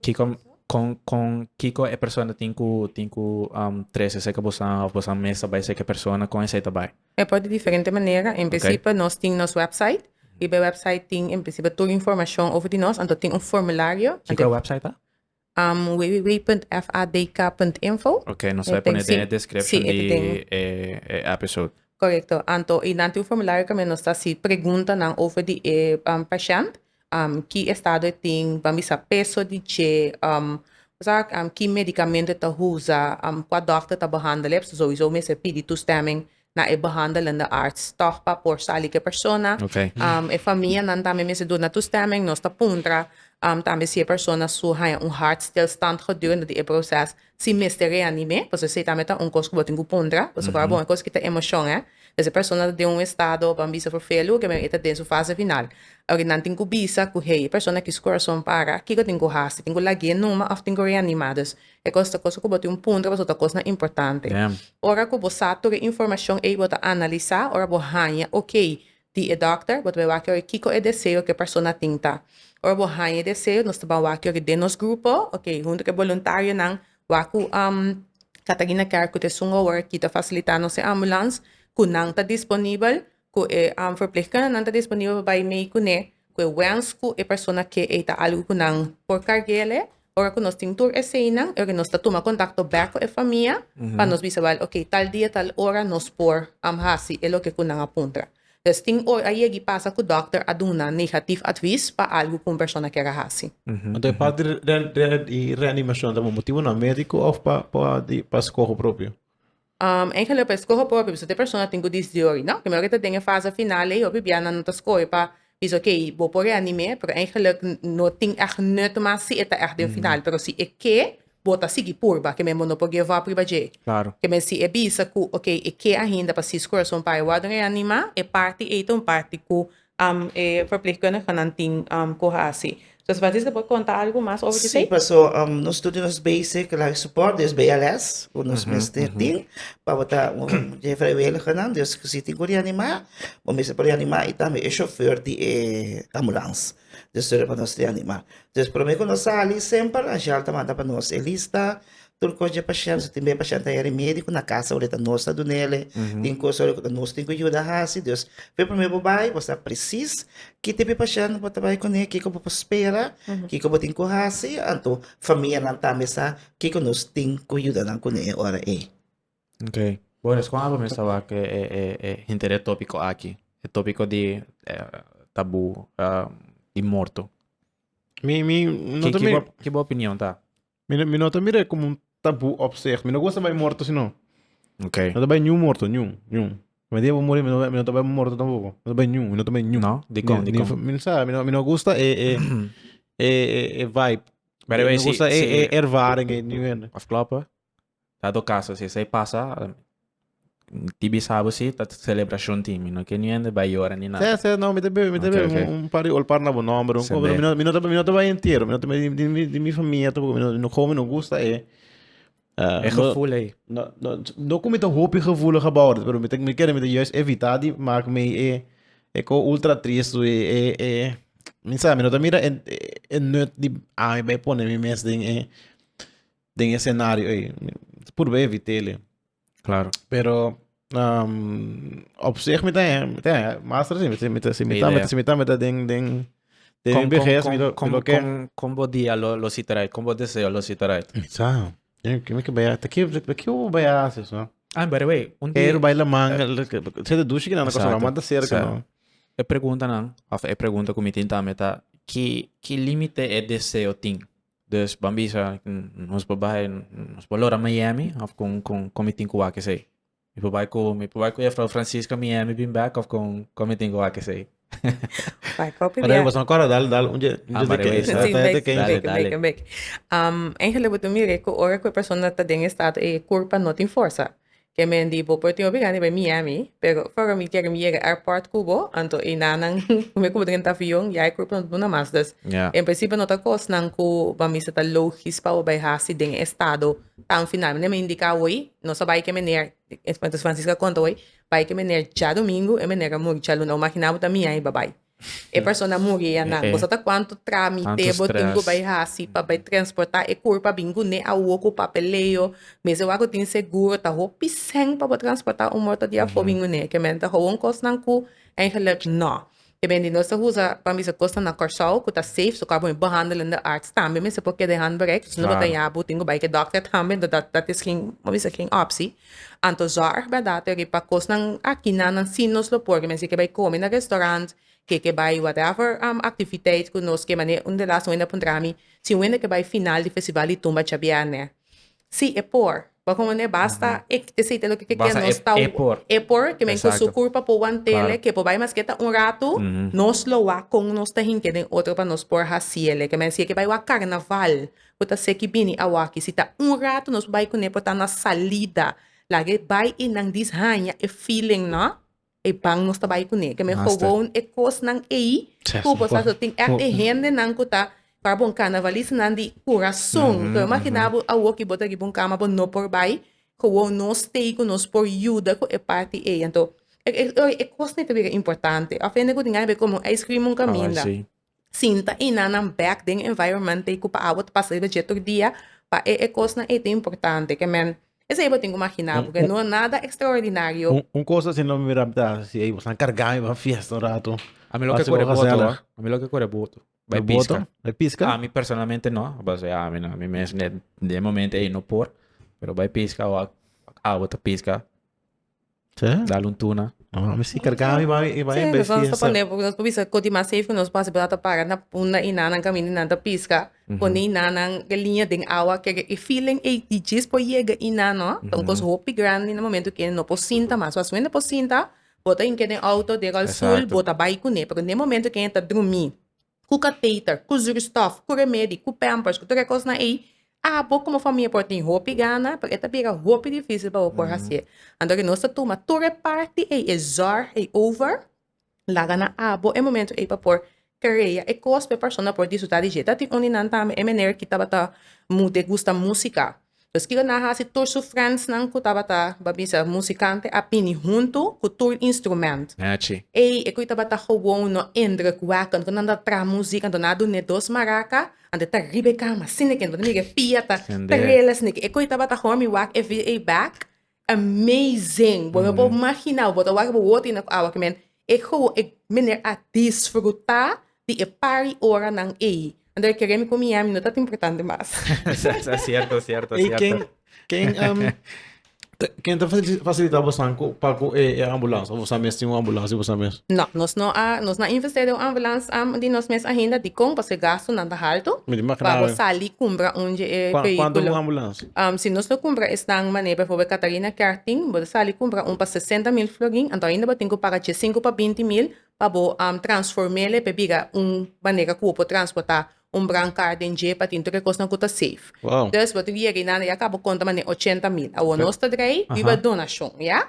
Kiko con con kiko e persona tin cu tin cu um trece esey cu bosan of bosan mes ta bay esey cu e persona con esey ta bay? E por di diferente manera, en principio okay. nos tin nos website y be website tin en principio tur informacion over di nos, anto tin un formulario. Kiko e website ta? Um, www.fadk.info. Okay, nos vai pone den e description si, di e, e episode. Correcto. Anto, y dan tin un formulario que nos ta si pregunta nan over di e um, patiënt. um, ki estado e tin, ban bisa peso di dje, um, sa, um, ki medicamento e ta usa, um, kua dokter ta behandel e, so sowieso mester pidi toestemming na e behandelende arts tog pa por sa like persona. Okay. Um, e famianan tambe mester duna toestemming, nos ta puntra um, tambe si e persona su haña un hartstilstand gedurende di e proces, Sin mester reanime, pasobra esei tambe ta un kos ku bo tin ku puntra, pasobra kua bon e kos ku ta emoshon, eh? Pues e persona ta den un estado, pan bisa for fea luge, pero e ta den su fase final. Oke, nan tin ku bisa ku hei, e persona aki su kurason para, kiko tin ku hasi? Tin ku lagu'é numa òf tin ku reanim'é? Dus, e kos ta kosnan ku bo tin un puntra pasobra ta kosnan importante. Ora ku bo sa tur e informashon ei, bo ta analisá, ora bo haña, oke, di e dòkter, bo ta bin wak yoga kiko e deseo ku e persona tin ta. Ora bo haña e deseo, nos ta ban wak yoga den nos grupo, oke, huntu ku e boluntarionan, wak ku Catarina Kerk ku ta esun awor, kita fasilitá nos e ambulans, ku nan ta disponibel, ku e verpleegkundenan ta disponibel pa bai mei kuné, ku e wens ku e persona ke ei ta algu ku nan por kargu'e alí, Ora cu nos tin tur eseinan, e nos ta tuma contacto back cu e famia pa nos bisa bal, ok, tal dia, tal ora nos por am haci e loke cu nan a puntra. Entonces, tin ora a yega y pasa cu dokter a duna negativ advis pa algu cu un persona kier a haci. Anto e part di reanimacion ta por motibonan medico of pa scoho propio? Engelio pa e skohe por hopi bisate persona tin ku disdi ori, no? Keme ora ta den e fase final ei, hopi bia nan no ta skohe pa bisa ok, bo por reanime, pero engeluk no tin ègt nut mas si e ta ègt den final, pero si e ke, bo ta sigui purba, keme bo no por give up riba dje. Keme si e bisa ku ok, e ke ainda pa si su kurason bai wòrdu reanimá, e parti ei ta un parti ku e verpleegkundigenan tin ku hasi. So si Francisca por konta algu mas over di esei? Sí, paso nos tur di nos basic life support, di nos BLS, ku nos mester tin, pa bo ta un di e vrijwilligernan, dus ku si tin ku reanimá, bo mester por reanimá i tambe e shofùr di e ambulans, dus tur e pa nos reanimá. Dus promé ku nos sali semper Angel ta manda pa nos e lista Tur cos dje pashent, tin bay pashent ta heri medico na casa ora e ta nos ta dunele, tin cos ora cu ta nos tin cu yuda haci, dus fe prome bo bay bo sa precies ki tipo di pashent bo ta bay cune, kico bo por spera, kico bo tin cu haci, anto famianan tambe sa kico nos tin cu yuda nan cune e ora ey. Okay. Bo responde pa mi sa wak e e hinter e topico aki, e topico di tabu di morto. Mi mi no ta mi. Ki bo opinion ta? Mi no, mi no ta mira como un tabu opzicht. Mi no gusta bij morto, sino. Okay. No ta bij nieuw morto, nieuw, nieuw. Mi diabo morir, mi no, mi no ta bij morto tampoco. No ta bij nieuw, mi no ta bij nieuw. No, di kon, di Ni- ni- kon. Mi no sabe, mi no, mi no gusta e, e, e, e, e vibe. By the way, mi no si- gusta e, si- e ervaring, e nieuw. Of kloppen. Dado caso si esei pasa di bisabo si ta celebracion tin mi no kier ni hende bai yora ni nada. Sesa no mi ta bebe mi ta bebe okay, okay. un par di olpar na bo nomber un mi no mi no ta mi no ta bai entero mi no ta mi di mi di mi famia ta mi no how mi no gusta e uh, e gevoel ei. No no no ku mi ta hopi gevoelig about it pero mi ta mi kere mi ta juist evita di mak mi e e ko ultra trist e e e mi sa mi no ta mira e e nut di ami bai pone mi mes den e den e senario ei. Purba e vitele. Claro. Pero um, op zich mi ta mi ta master si mi ta mi ta mi ta si mi ta mi ta den den den kom, BGS kom, mi lo kom, mi lo ke. Kom, kom bo dia lo lo sitarai, kom bo deseo lo sitarai. Sa. Ke mi ke baya, ta ke ta ke bo baya se so. Ah, by the way, un dia. Pero baila manga, se de dushi que na cosa lo manda cerca no. E pregunta nan, of e pregunta ku mi tin ta mi ta ki ki límite e deseo tin. Dus ban bisa nos por bai nos por lora Miami of con con con mi tin cu wak esey. Mi por bai cu mi por bai cu juffrouw Francisca Miami bin back of con con mi tin cu wak esey. Bai kopi Pero bia. was no kora dal dal un je un Ah, je maar de wees, keis. hè? Sí, Dal de bek, keis. bek, Dale, bek, bek. Um, Angel, e bo tu mire ku ora ku e persona ta den e estado e kurpa no tin forsa. Ke men di bo por tin obliga riba e Miami, pero for mi kere mi yega airport ku bo, anto e nannan ku mi kuda renta avion ya e kurpnan ta duna mas. Dus en prinsipio no ta kosnan ku ban bisa ta logis pa bo bai hasi den e estado tan final. Mane mi indika awor, nos a bai ke mener, entonces Francisca konta awor, bai ke mener djadumingu, e mener a muri djaluna. Bo imaginá bo ta Miami babai. e persona muri ya nan. Boso ta cuanto tramite bo tin cu bay haci pa bay transporta e curpa bin gune awo cu papeleo. Mester wak cu tin seguro. Ta hopi seng pa bo transporta un morto di afo bin gune. Ke mester ta gewoon cosnan cu eigenlijk no. Ke men di nos ta usa pa bisa cosnan na Corsou cu ta safe. So cu abo un behandelende arts tambe mester por keda e handbereik. Si no bo ta yabu tin cu bay ke dokter tambe. Dat is geen, bo bisa geen optie. Anto zòrg bèrdad riba kosnan aki nan nan si nos lo por mester ke bai kome na restaurant, ke ke bai whatever aktiviteit ku nos ke manera un de las wende a puntra mi si wende ke bai final di festival di tumba chabiènè. Si e por. Bo kon wende basta e te seita loke ke ke nos ta e por kimin ku su kurpa por wantele ke por bai maske ta un ratu nos lo wak kon nos ta hinke den otro pa nos por hasiele kimin si e ke bai wak karnaval Bo ta seki bini awaki. Si ta un ratu nos bai kuné por ta na salida. Laga e bai i nan dis haña e feeling no e ban nos ta bai kuné. Ke men gewoon e kosnan ei ku bo sa so tin ègt e hendenan ku ta para bo un karnavalistanan di kurason. Lo imaginá bo awoki bo ta riba un kama bo no por bai. Gewoon nos stay ku nos por yuda ku e parti ei. Anto e kosnan ei ta bira importante. Òf hende ku tin ai be kome un ijskrim un kaminda. sinta i na nan bek den e environment ei ku pa awa ta pasa riba dje tur dia, pa e e kosnan ei ta importante. Ke men, esei bo tin ku maginá porque no nada extraordinario. Un kos asina lo mi mira mi ta hasi ei, bo sa kargá mi pa fiesta un ratu. Ami lo ke kore boto, ami lo ke kore boto. Bai piska. Bai piska? Ami personalmente no, basea ami no, ami mes den momento ei no por, pero bai piska wak awa ta piska. Sí. Dal un tuna. Oh, mi si cargaba y va y va Sí, en nos vamos a bestia. poner, porque nos bisa koti mas safe nos pasa por ta para na punda y nanan camina y nan ta pisca. Pone y nanan de línea den awa que e feeling ey di jis por yega y nan no. Ta un cos hopi grandi na momento que no por sinta mas. Pasobra wen ta por sinta bota hinca den auto de rolstoel Exacto. bota bay cune. Pero den momento que enta drumi ku kateter, ku zurstof, ku remedi, ku pampers, ku tur e kosnan ei, abo komo famia por tin hopi gana, pero e ta bira hopi difisil pa bo por hasié. Anto ke nos ta tuma tur e parti ei, e zòrg ei over, laga na abo e momento ei pa por krea e kos pa e persona por disfrutá di dje. Ta tin un di nan tambe, e mener ki tabata, mu degustá músika, Skira na hasi tur su frèndsnan ku tabata ba bisa musikante a bini huntu ku tur instrumènt. Nachi. Ey, e kue tabata gewoon no indrukwekkend ku nan ta traha muzik, anto nan a dun'é dos maraka, anto e ta riba e kama, sineken, anto nan mira e pia ta trela, sineken e kue tabata homi wak e via ey bèk, Amazing! Bo no por magina, bo ta wak bo woti na ku awa ke men e gou e meneer a disfruta di e pari ora nan ei. Anto e kere mi ku Miami no tat importante mas. Cierto, cierto, cierto. Ey, ken, ken, ken ta facilita bosan cu, pa cu e, e ambulance? Of bosan mes tin un ambulance di bosan mes? No, nos no a, nos no a invest'é den un ambulance am di nos mes ahinda. Dikon? Pasobra e gastonan ta halto. Mi ta imaginá. Pa bo sali kumbra un dje e vehíkulo. Cuantu un ambulance? Am, si nos lo cumpra esnan manera bijvoorbeeld Catarina Kerting, bo ta sali cumpra un pa sesenta mil florin, anto ainda bo tin cu paga dje sinku pa binti mil pa bo am transformele pe bira un manera cu bo por transporta un brancard den dje pa tin tur e cosnan cu ta safe. Wow. Dus bo ta wia ri nan, ya cabo conta mane ochenta mil. Awor nos ta draai biba donacion, ya.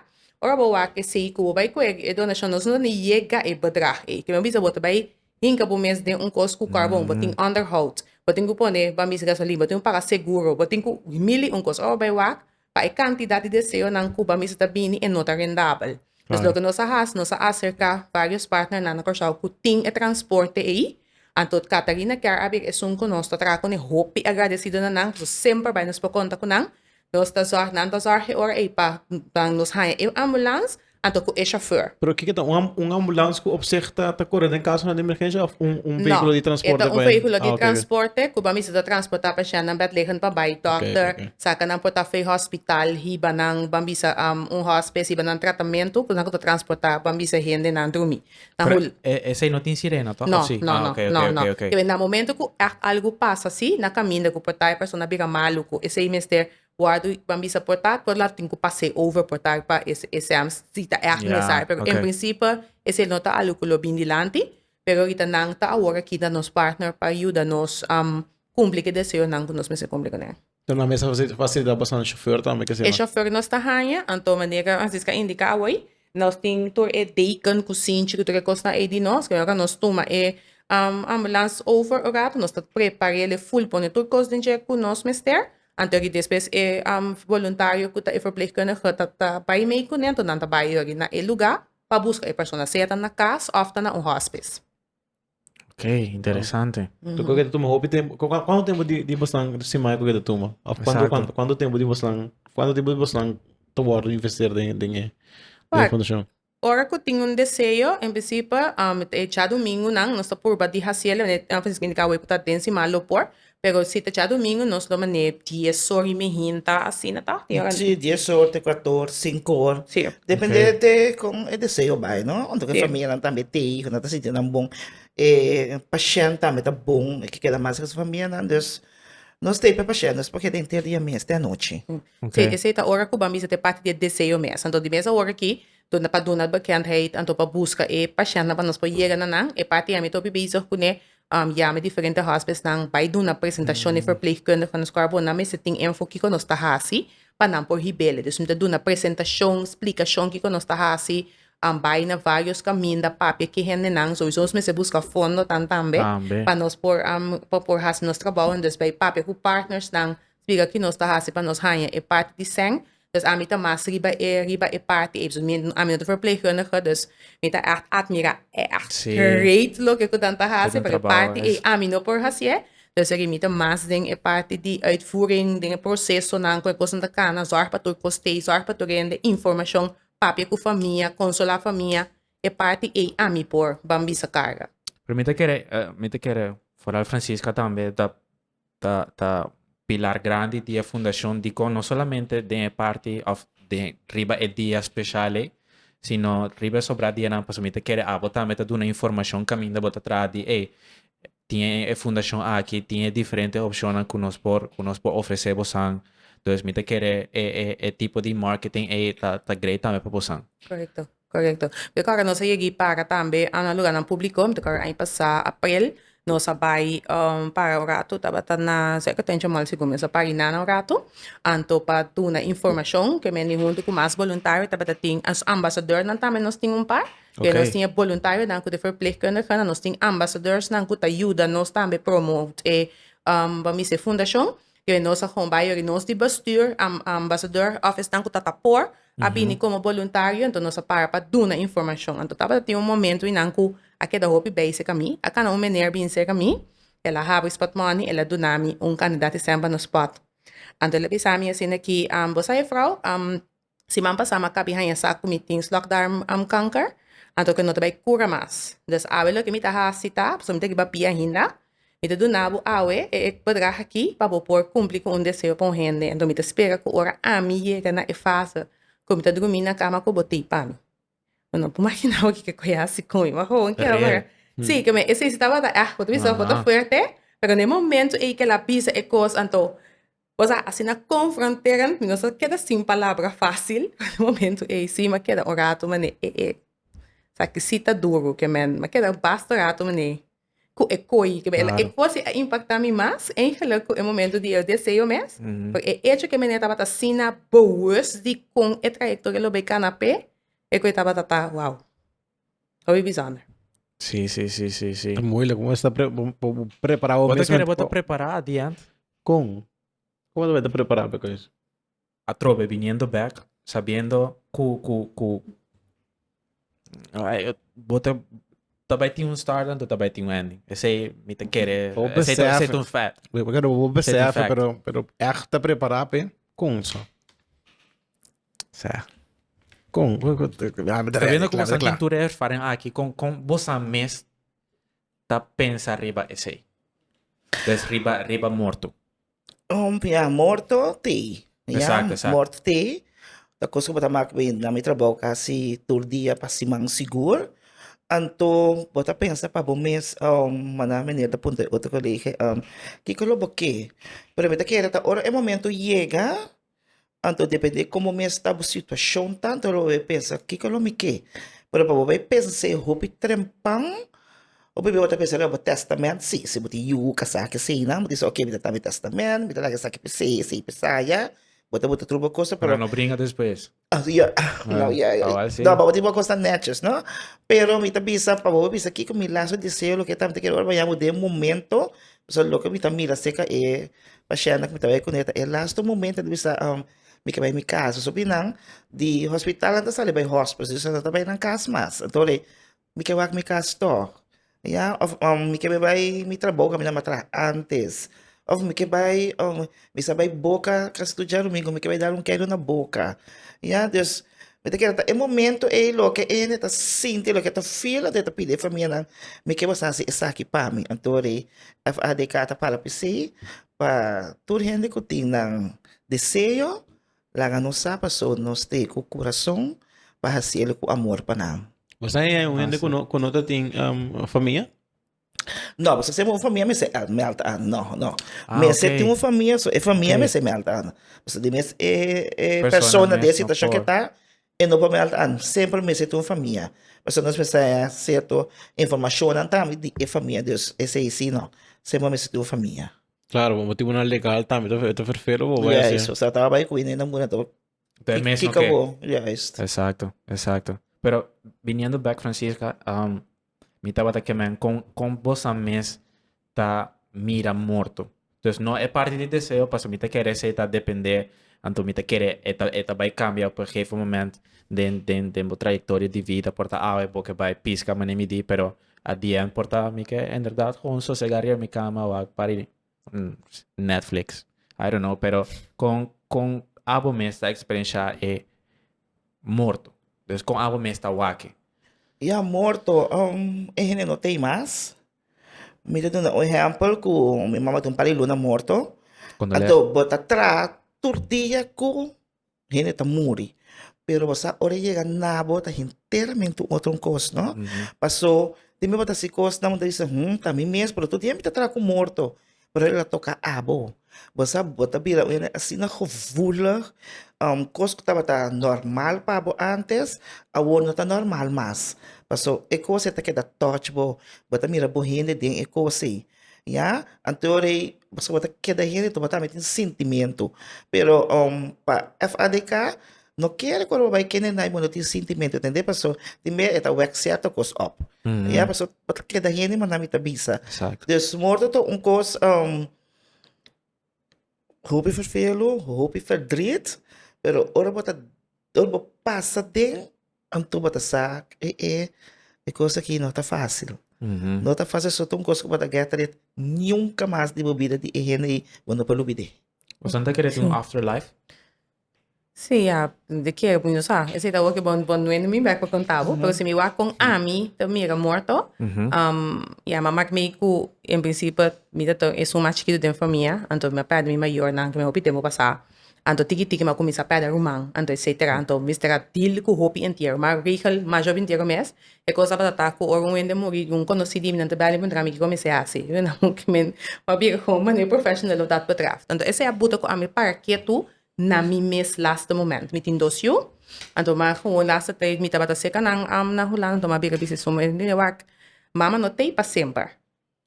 Ora bo wak esey cu bo bay cu e donacion, nos no ta yega e bedrag ey. Kico mi a bisa bo ta bay Hinka bo mes den un kos ku karbon, bo tin onderhoud, bo tin ku pone bambisa gasolin, bo tin ku paga seguro, bo tin ku mil i un kos. Ora bo bai wak, pa e kantidat di deseonan ku bambisa ta bini, e no ta rendabel. Pues loke nos a hasi, nos a aserká vários partnernan na Kòrsou ku tin e transporte ei, anto Catarina kier a bir esun ku nos ta traha kuné. Hopi agradesidonan nan, nos semper bai, nos por konta ku nan. Nos ta zorg, nan ta zorg e ora ei pa dan nos haña e ambulans anto ku e shofèr. Pero kiko ta un am- un ambulans ku op sih ta ta kore den kasonan di emergensia òf un un No, vehikulo di transporte e ta un pa hen? vehículo di Ah, oké, oké. transporte ku ban bisa ta transportá pasièntnan bèdliggend pa bai dòkter, oké. sa ke nan por ta vei hospital, hiba nan, ban bisa am, un hòspes, hiba nan tratamentu, ku nan ku ta transportá, ban bisa hendenan drumi. Ta Pero hul- e, esei no tin sirena, toch? No, Of sí? no, ah, no, oké, no, oké, no. oké, oké. Entonces, na momento cu echt algo pasa así, na caminda cu portaje persona bira malo, cu esei mester worde, ban bisa portaje por latin cu pase over portaje pa es, esam, si ta echt Ja, necesario. Pero oké. en principe, esei no ta algo cu lo bin dilanti, pero ahorita nan ta awor aki na nos partner pa yuda nos am, cumpli cu deseonan cu nos mester cumpli cun'e. Lo nan mester hasi fasilidad pa San chauffeur tambe kese E man. chauffeur nos ta haña, anto manera Francisca indica awey, nos tin tur e deken cu sinchi cu tur e cosnan ey di nos, pero ora nos tuma e um ambulance over un rato, nos ta prepar'el e full pone tur cos den dje cu nos mester, anto di despues e um voluntario cu ta e verpleegkundige ta ta bay mee cu nan, anto nan ta bay yogi na e lugar pa busca e persona, sea ta na cas of ta na un hospice. Ok, interesante. Cu cu que tuma hopi tempo? cu- cu- Cuánto tiempo di di bosnan simai cu que tuma? Of cuánto Exacto. cuánto cuánto tiempo di bosnan cuánto tiempo di bosnan te wordo investeer den den e den e Waak. fundacion? Ora cu tin un deseo, en principe, um, e djadumingunan, nos ta purba di hacielo, eh, a veces binti can awey cu ta den sima lo por, Pero si ta djadomingo nos lo manee dies or y mihin ta asina ta di ora. Sí, dies or te cuato or, cinco or. Sí. Depende Ok. te con e deseo bai, no? Anto que Sí. familianan tambe te hijo, nan ta sinti nan bon. E pashènt tambe ta bon, e ke keda mas riba su familianan. Dus, nos ta hiper pashènt, nos por keda henter dia mes te anochi. Ok. Sí, esei ta ora cu ban bisa t'e parti di e deseo mes. Anto di mes awor aki, tur na pa duna'l bekendheid, anto pa busca e pashèntnan pa nos por yega na nan. E parti ami tur a biba izog cune Yama e diferente hòspesnan bai duna presentashon e ferpleegkundige nos kua bo nan mester tin info kiko nos ta hasi pa nan por hib'é. Dus mi ta duna presentashon, splikashon kiko nos ta hasi, bai na vários kaminda, papia ke hendenan. Souso nos mester buska fondo tambe pa nos por hasi nos trabou. Entonces bai papia ku partnersnan Spiga ki nos ta hasi pa nos haña e parti di sèn, dus ami ta mas riba e riba e parti ei. Mi no, ami no ta verpleegkundige, dus mi ta ègt atmirá, ègt great loke ku nan ta hasi, pero e parti ei ami no por hasié. Dus ri mi ta mas den e parti di uitvoering, den e prosesonan ku e kosnan ta kana, zòrg pa tur kos tei, zòrg pa tur hende, informashon, papia ku famia, konsolá famia, e parti ei ami por bambisa karga. Pero mi ta kere, mi ta kere, foral Franziska tambe ta. ta ta pilar grandi di e fundacion dicon no solamente den e parti of den riba e dia special ei sino riba e sobra dianan pasobra mi ta kere abo tambe ta duna informacion caminda bo ta traha di ey tin e fundacion aki tin e diferente opcionnan cu nos por cu nos por ofrece bosan entonces mi ta kere e e e tipo di marketing ei ta ta great tambe pa bosan. Correcto. Korekto. Be kòrda nos a yega i para tambe na luganan públiko. Mi ta kòrda aña pasá aprel nos a bai para un ratu, tabata na cerca Tenchi Mall segun mi. Nos a para di nana un ratu anto pa duna informashon ku e mende huntu ku mas boluntario tabata tin. Nos ambasadornan tambe nos tin un par, den nos tin e boluntarionan ku di verplegkundigenan. Nos tin ambasadornan ku ta yuda nos tambe promo e ba'mi se fundashon. ke nos a homba ayori nos di bestuur ambasador òf esnan ku ta ta por a bini komo boluntario enton nos a para pa duna informashon anto tabata tin un momento einan ku a keda hopi bei serka mi a kana un mener bini serka mi el a haba e spot moni el a duna mi un kandidat i sèn pa nos spot anto el a bisa mi asin aki bo sa e frou? Siman pasá m'a kabi haña sa ku mi tin slokdarmkanker, anto ke no ta bai kura mas. Dus awe loke mi ta hasi ta, pasobra mi ta riba pia hinda, mi ta duna bo awe e e bedrag aki pa bo por kumpli ku un deseo pa un hende. Anto mi ta spera ku ora ami yega na e fase ku mi ta drumí na kama ku bo tei pa mi. Bo no por maginá bo kiko e hasi ku mi. Bo a hon ke ora, sí, ke mi esei si tabata, ah, bo ta bisa bo ta fuerte, pero na e momentu ei ke el a bisa e kos, anto Pues a asina confronteran mi no sa keda sin palabra facil den momento eysi ma keda un rato mane e e esaki si ta duro ke men ma keda basta rato mane cu e coy ke men e cosi a impacta mi mas eigenlijk cu e momento di el deseo mes por e hecho ke mene tabata asina boos di con e trayectoria lo bay cana pe e coy tabata ta wow. Hopi bizonder. Sí, sí, sí, sí, sí. Es moeilijk, we moeten pre we moeten preparado Wat mensen. kere bota prepara at the end? Kon? Kon we te prepara pe kois? Atrobe viniendo back, sabiendo ku ku ku Ay, bota tabai tin un start en tabai tin un ending. Ese mi te kere, O ese ese besef. te un fact. We we kere we Set in besef, fact. pero pero echt te prepara pe kon so. Con? Ta biendo como esnan tin tur e erfaring aki. Con, con bosan mes ta pensa riba esey? Des riba, riba morto. Ya, morto te. Exacto, exacto. Morto te. Ta cos cu bo ta mak bay na mi trabao casi tur dia pa siman sigur. Anto bo ta pensa pa bo mes, manda meneer ta puntra e otro colega, kico lo bo ke? Pero mi ta kere ta ora e momento yega, Anto depende como mi está bo situación tanto lo voy pensa kiko lo mi ke. Pero pa bo bay pensa e hopi trempan o bibi otra persona bo testament si si bo tin yu casa ke sei nan bo dice ok mi ta ta mi testament mi ta laga esaki pesei esei pesaya bo ta bota truba cosa pero no bringa despues. Avion, un avion. Awal sí. No, bobo tin bo cosa netjes, no? Pero mi ta bisa, pa bobo bisa, kiko mi lazo deseo, lo que tam te quiero ora mañana, bo den momento, so lo que mi ta mira seca e paciente que mi ta bai con eta, e lasto momento ta bisa, um, mi ke bai mi casa, so binan, di hospital nan ta sali bai hospice, so nan ta bai nan cas mas, entonces, Mi ke wak mi kas tog, ya, of mi ke bai mi trabou kaminda mi a traha antes, of mi ke bai mi sa bai Boca kas studia Domingo mi ke bai dar un keda na Boca, ya, dus mi ta kere ta e momento ei loke e hende ta sinti, loke e ta feel loke e ta pidi e famianan mi ke boso a hasi esaki pa mi, anto ri FADK ta para pi si pa tur hende ku tin nan deseo Laga nos sa paso nos t'e cu curason pa hacielo cu amor pa nan. Bo sa haya un hende cu no, cu no ta tin um, famia? No, bo sa sema un famia mester el meld aan. No, no. Ah, mester oké. tin un famia, so e famia Oké. mester meld aan. Bo sa di mes e, e Persona persona de mes, situacion no que ta, e no por meld aan. Sempre mester tin un famia. Bo sa nos mester haya cierto informacionan tambe di e famia. Dus, e sei si no. Sema mester tin un famia. Claro, bo motivo na legal tambe to to vervelo bo vai Juist, o sea, taba bai cu ine muna to. Te mes no que. Bo. Juist. Exacto, exacto. Pero viniendo back Francisca, um, mi tabata que men con con vos a mes ta mira morto. Dus no e parte di deseo, paso mi te kere se ta depende, anto mi te kere eta eta bai cambia op een gegeven moment den den den bo trayectoria di vida porta awe bo ke bai piska mane mi di, pero A dm por ta mi ke inderdat kon sosega riba mi kama wak pari Netflix. I don't know pero kon kon abo mes ta eksperenshá e morto. Dus kon abo mes ta wak. Ya morto e hende no ta ei mas. Mi ta duna un ehèmpel ku mi mama ta un par di luna morto. Kondoleash. Adobo ta traha tur dia ku. hende ta muri. Pero bo sa ora e yega na bo ta henteramente un otro cos, no? Paso, tin bo ta si cos na bo ta bisa, hmm, ta mi mes, pero tur tiempo ta traha cu morto. Pero el a toca abo. Bo sa, bo ta bira un hende asina gevoelig, um, cos cu tabata normal pa bo antes, awor no ta normal mas. Paso, e cos ei ta keda touch bo. Bo ta mira bo hende den e cos ei. Ya? Anto ora ei Pasobra bo ta keda hende tabata ami tin sentimiento pero um pa FADK no kere ku ora bo bai kende nai bo no tin sentimiento tende paso tin mei e ta wek cierto kos op ya paso bo ta keda hende manda mi ta bisa Exacto. dus morto ta un kos um hopi vervelu hopi verdriet pero ora bo ta ora bo pasa den Anto bo ta sa e e e cos aki no ta facil. No ta facil so ta un cos cu bo ta get ret nunca mas di bo bida di e hende ay bo no por lo bide. Bo san ta kere tin un after life? Sí, ya de kere pues no sa. Esey ta awor bo no wende mi bek pa conta bo. Pero si mi wak con ami ta mira morto, ya m'a mak mi cu en principio mi ta tur esun mas chikito den famia, anto mi a perde mi mayornan cu mi hopi tempo pasa. Anto tiki tiki ma kuminsá pèrdè ruman, anto e setera, anto mester a dil ku hopi entiero. Ma Rachel masha bin entiero mes, e kos a basa ta ku ora un hende muri, un konosí di mi nan ta bèl i puntra mi kiko mi esei hasi. Mi nan hopi men pa bira ku un manera professional lo dat patrás. Anto esei a buta ku ami para ketu na mi mes lasta moment. Mi tin dos yu, anto mi a gewoon lasta trei mi tabata serka nan na Hulanda, anto mi a bira bisnis su mes. Mi a wak, Mama no t'ei pa semper.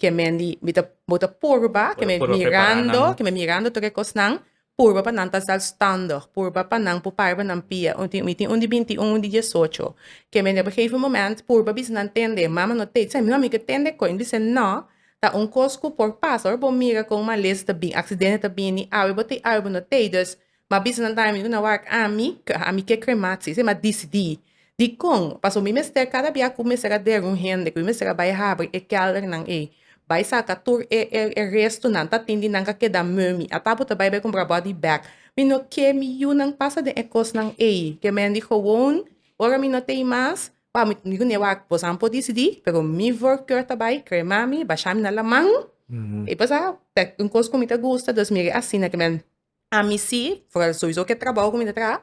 ke men di mi ta bo ta purba ke mi mirando ke mi mirando tur e kosnan purba pa nan ta zelfstandig purba pa nan por parba nan pia mi tin un di binti un un di diesocho ke men di op e gegeven moment purba bisa nan tende mama no te se no mi ke tende koe mi se no ta un kos ku por pasa ora bo mira kon malesa ta bini aksidente ta bini awe bo te awe bo no te dus Ma bisa nan taimi ku nan wak ami, ka ami ke krematie, se m'a disidí. Dikon? Pasobra mi mester kada bia ku mi mester a der un hende, ku mi mester a bai habri e kèldernan ei, bai saka tur e e e restunan, ta tin di nan ka keda meu mi. Ata bo ta bai bai kumpra body bag. Mi no ke mi yunan pasa den e kosnan ei. Ke men di gewoon, ora mi no tei mas, pa mi mi ku nan e wak, bosan por disidí, pero mi vorkeur ta bai krema mi, basha mi na laman, i pasá, ta un kos ku mi ta gusta, dus mi ri asina ke men Ami si, foral sowieso ke trabou ku mi ta traha,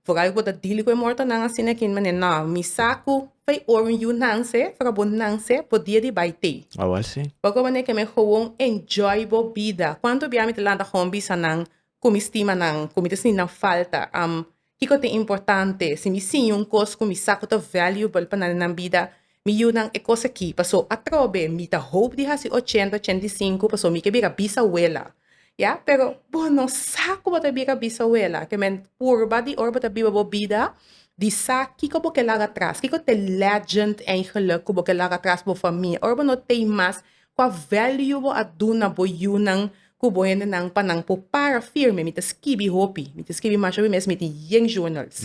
foral ku bo ta dili ku e mortonan asina aki manera nò, mi sa ku fai ora un yu nan se, foral bo nan se, bo dia di bai tei. Awor si. Oko manera ke mi gewoon enjoy bo bida. Kuantu bia mi ta lanta gewoon bisa nan ku mi stima nan, ku mi ta sinti nan falta? Am Kiko ta importante? Si mi siña un kos ku mi sa ku ta valuable pa nan nan bida, mi yu nan e kos aki. Paso atrobe mi ta hoop di hasi ochenta, ochenta i sinku paso mi ke bira bisawela, ya. Pero bo no sa ku bo ta bira bisawela. Te men purba di ora bo ta biba bo bida di sa kiko bo ke laga atras, kiko ta e legend eigentlik ku bo ke laga atras bo famia. Ora bo no tei mas, Kua value bo a duna bo yunan ku bo hendenan pa nan por para firme? Mi ta skibi hopi. Mi ta skibi masha wi mes. Mi tin yen journals.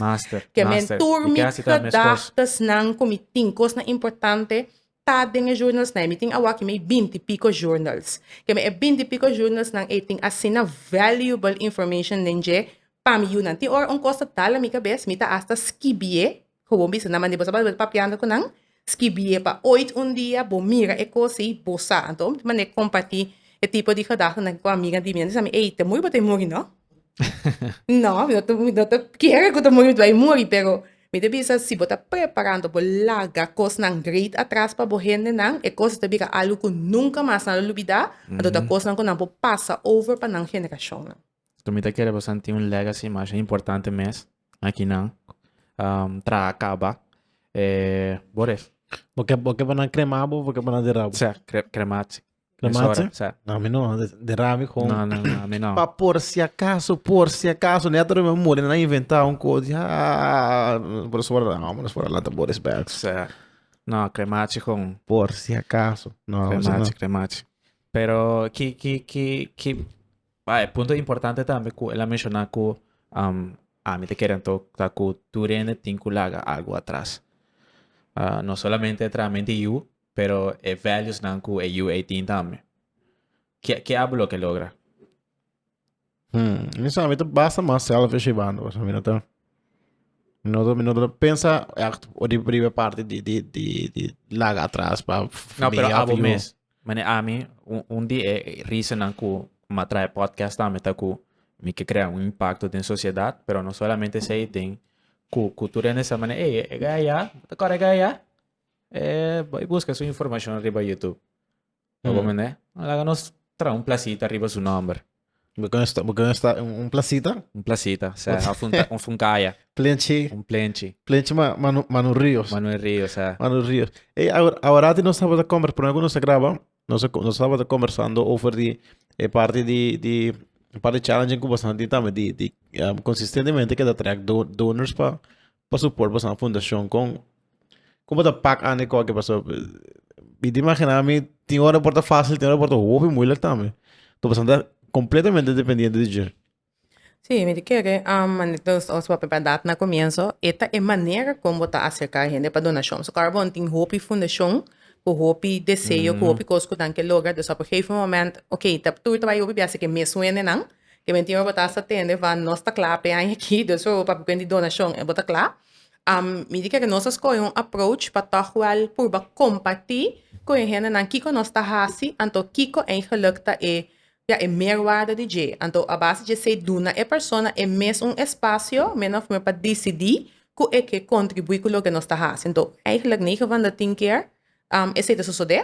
Ke men tur mi gedahtasnan ku mi tin, kosnan importante, ta den e journalsnan ei. Mi tin awaki mei binti piko journals. Ke men e binti piko journalsnan ei tin asina valuable information den dje pa mi yunan. Tin ora un kos ta dala mi kabes, mi ta asta skibi'é. Ku bo bisa nan mandi bo sa balbel papiando ku nan, skibie pa oit un dia bo mira e kos ei bo sa. Anto bo manda e komparti e tipo di gedahtanan ku amiga di mi. Nan di sa mi, ey, ta muri bo ta e muri, no? No, mi no ta mi no ta kere ku ta muri mi ta bai muri, pero mi ta bisa si bo ta preparando bo laga kosnan great atras pa bo hendenan e kos ei ta bira algu ku nunka mas nan lo lubida, anto ta kosnan ku nan por pasa over pa nan generashonnan. So mi ta kere bo santi un legacy masha importante mes. Makinan traha kaba e bo ref. Bo ke bo ke pa nan krema bo bo ke pa nan dera bo? Sa kre kremasi. Kremasi? Sa. Na mi no dera mi kon. Na na na mi no. Pa por si akaso por si akaso ne ato reme muri nan inventa un ko di haa por eso por no por eso por lanta bo respect. Sa na kremasi kon. Por si akaso no. Kremasi kremasi pero ki ki ki ki. Bai, e punto importante tambe ku el a menshoná ku ami ta kere anto ta ku tur hende tin ku laga algu atras. no solamente e trahamento di yu, pero e valuesnan ku e yu ei tin tambe. Ke ke abo lo ke logra? Hmm, mi sa mi ta basta mas selfishibando, pasobra mi no ta mi no ta mi no ta pensa akt di riba e parti di di di di laga atras pa No, pero familia abo of yu. mes. Mane ami un di e reasonnan ku mi a traha e podcast tambe ta ku mi ke krea un impakto den sosiedat pero no solamente esei den ku ku tur hende sa mane ey e gaya ya ta kore gaya e bai buska su informashon riba youtube ta wor mende laga nos traha un plasita riba su nòmber. Bo con esta, bo con esta un, un placita, Un placita, o sea, of un, ta- of un kaya, plenchi, un plenchi. plenchi ma, ma, no, ma no rios. Maar no rio, o sea, Ma no rios. Hey, ahora, ahora ti nos tabata convers, por ejemplo, nos a graba, nos, a- nos tabata conversando over di, e parte di, di, un par di challenge cu bastan tin tambe di, di, ah, consistentemente keda track do- donors pa, Paso por basa un fundacion con como ta pak ane koke paso mi ta imagina mi tin ora por ta facil tin ora por ta hopi moeilijk tambe to basa ta completamente dependiente di dje. Sí, mi ta kere nos papia a dat na comienso e ta e manera con bo ta acerca hende pa donacion. So Carbon tin hopi fundacion cu hopi deseo cu hopi cos cu nan ke logra, dus op e gegeven moment, ok, ta tur ta bay hopi biaha si ke mes wendenan Ke men tin ora bo ta hasta tende va nos ta kla p'e aña aki dus ora pa kuent di donashon bo ta kla. Mi di kere nos a skohe un aproach pa tòg wèl purba kompartí ku e hendenan kiko nos ta hasi anto kiko eigenlik ta e ja e meerwaarde di dje. Anto a base dje esei duna e persona e mes un espasio min òf mei pa disidí ku e ke kontribuí ku loke nos ta hasi. Anto, eigenlik nege van da tin kier esei ta sosodé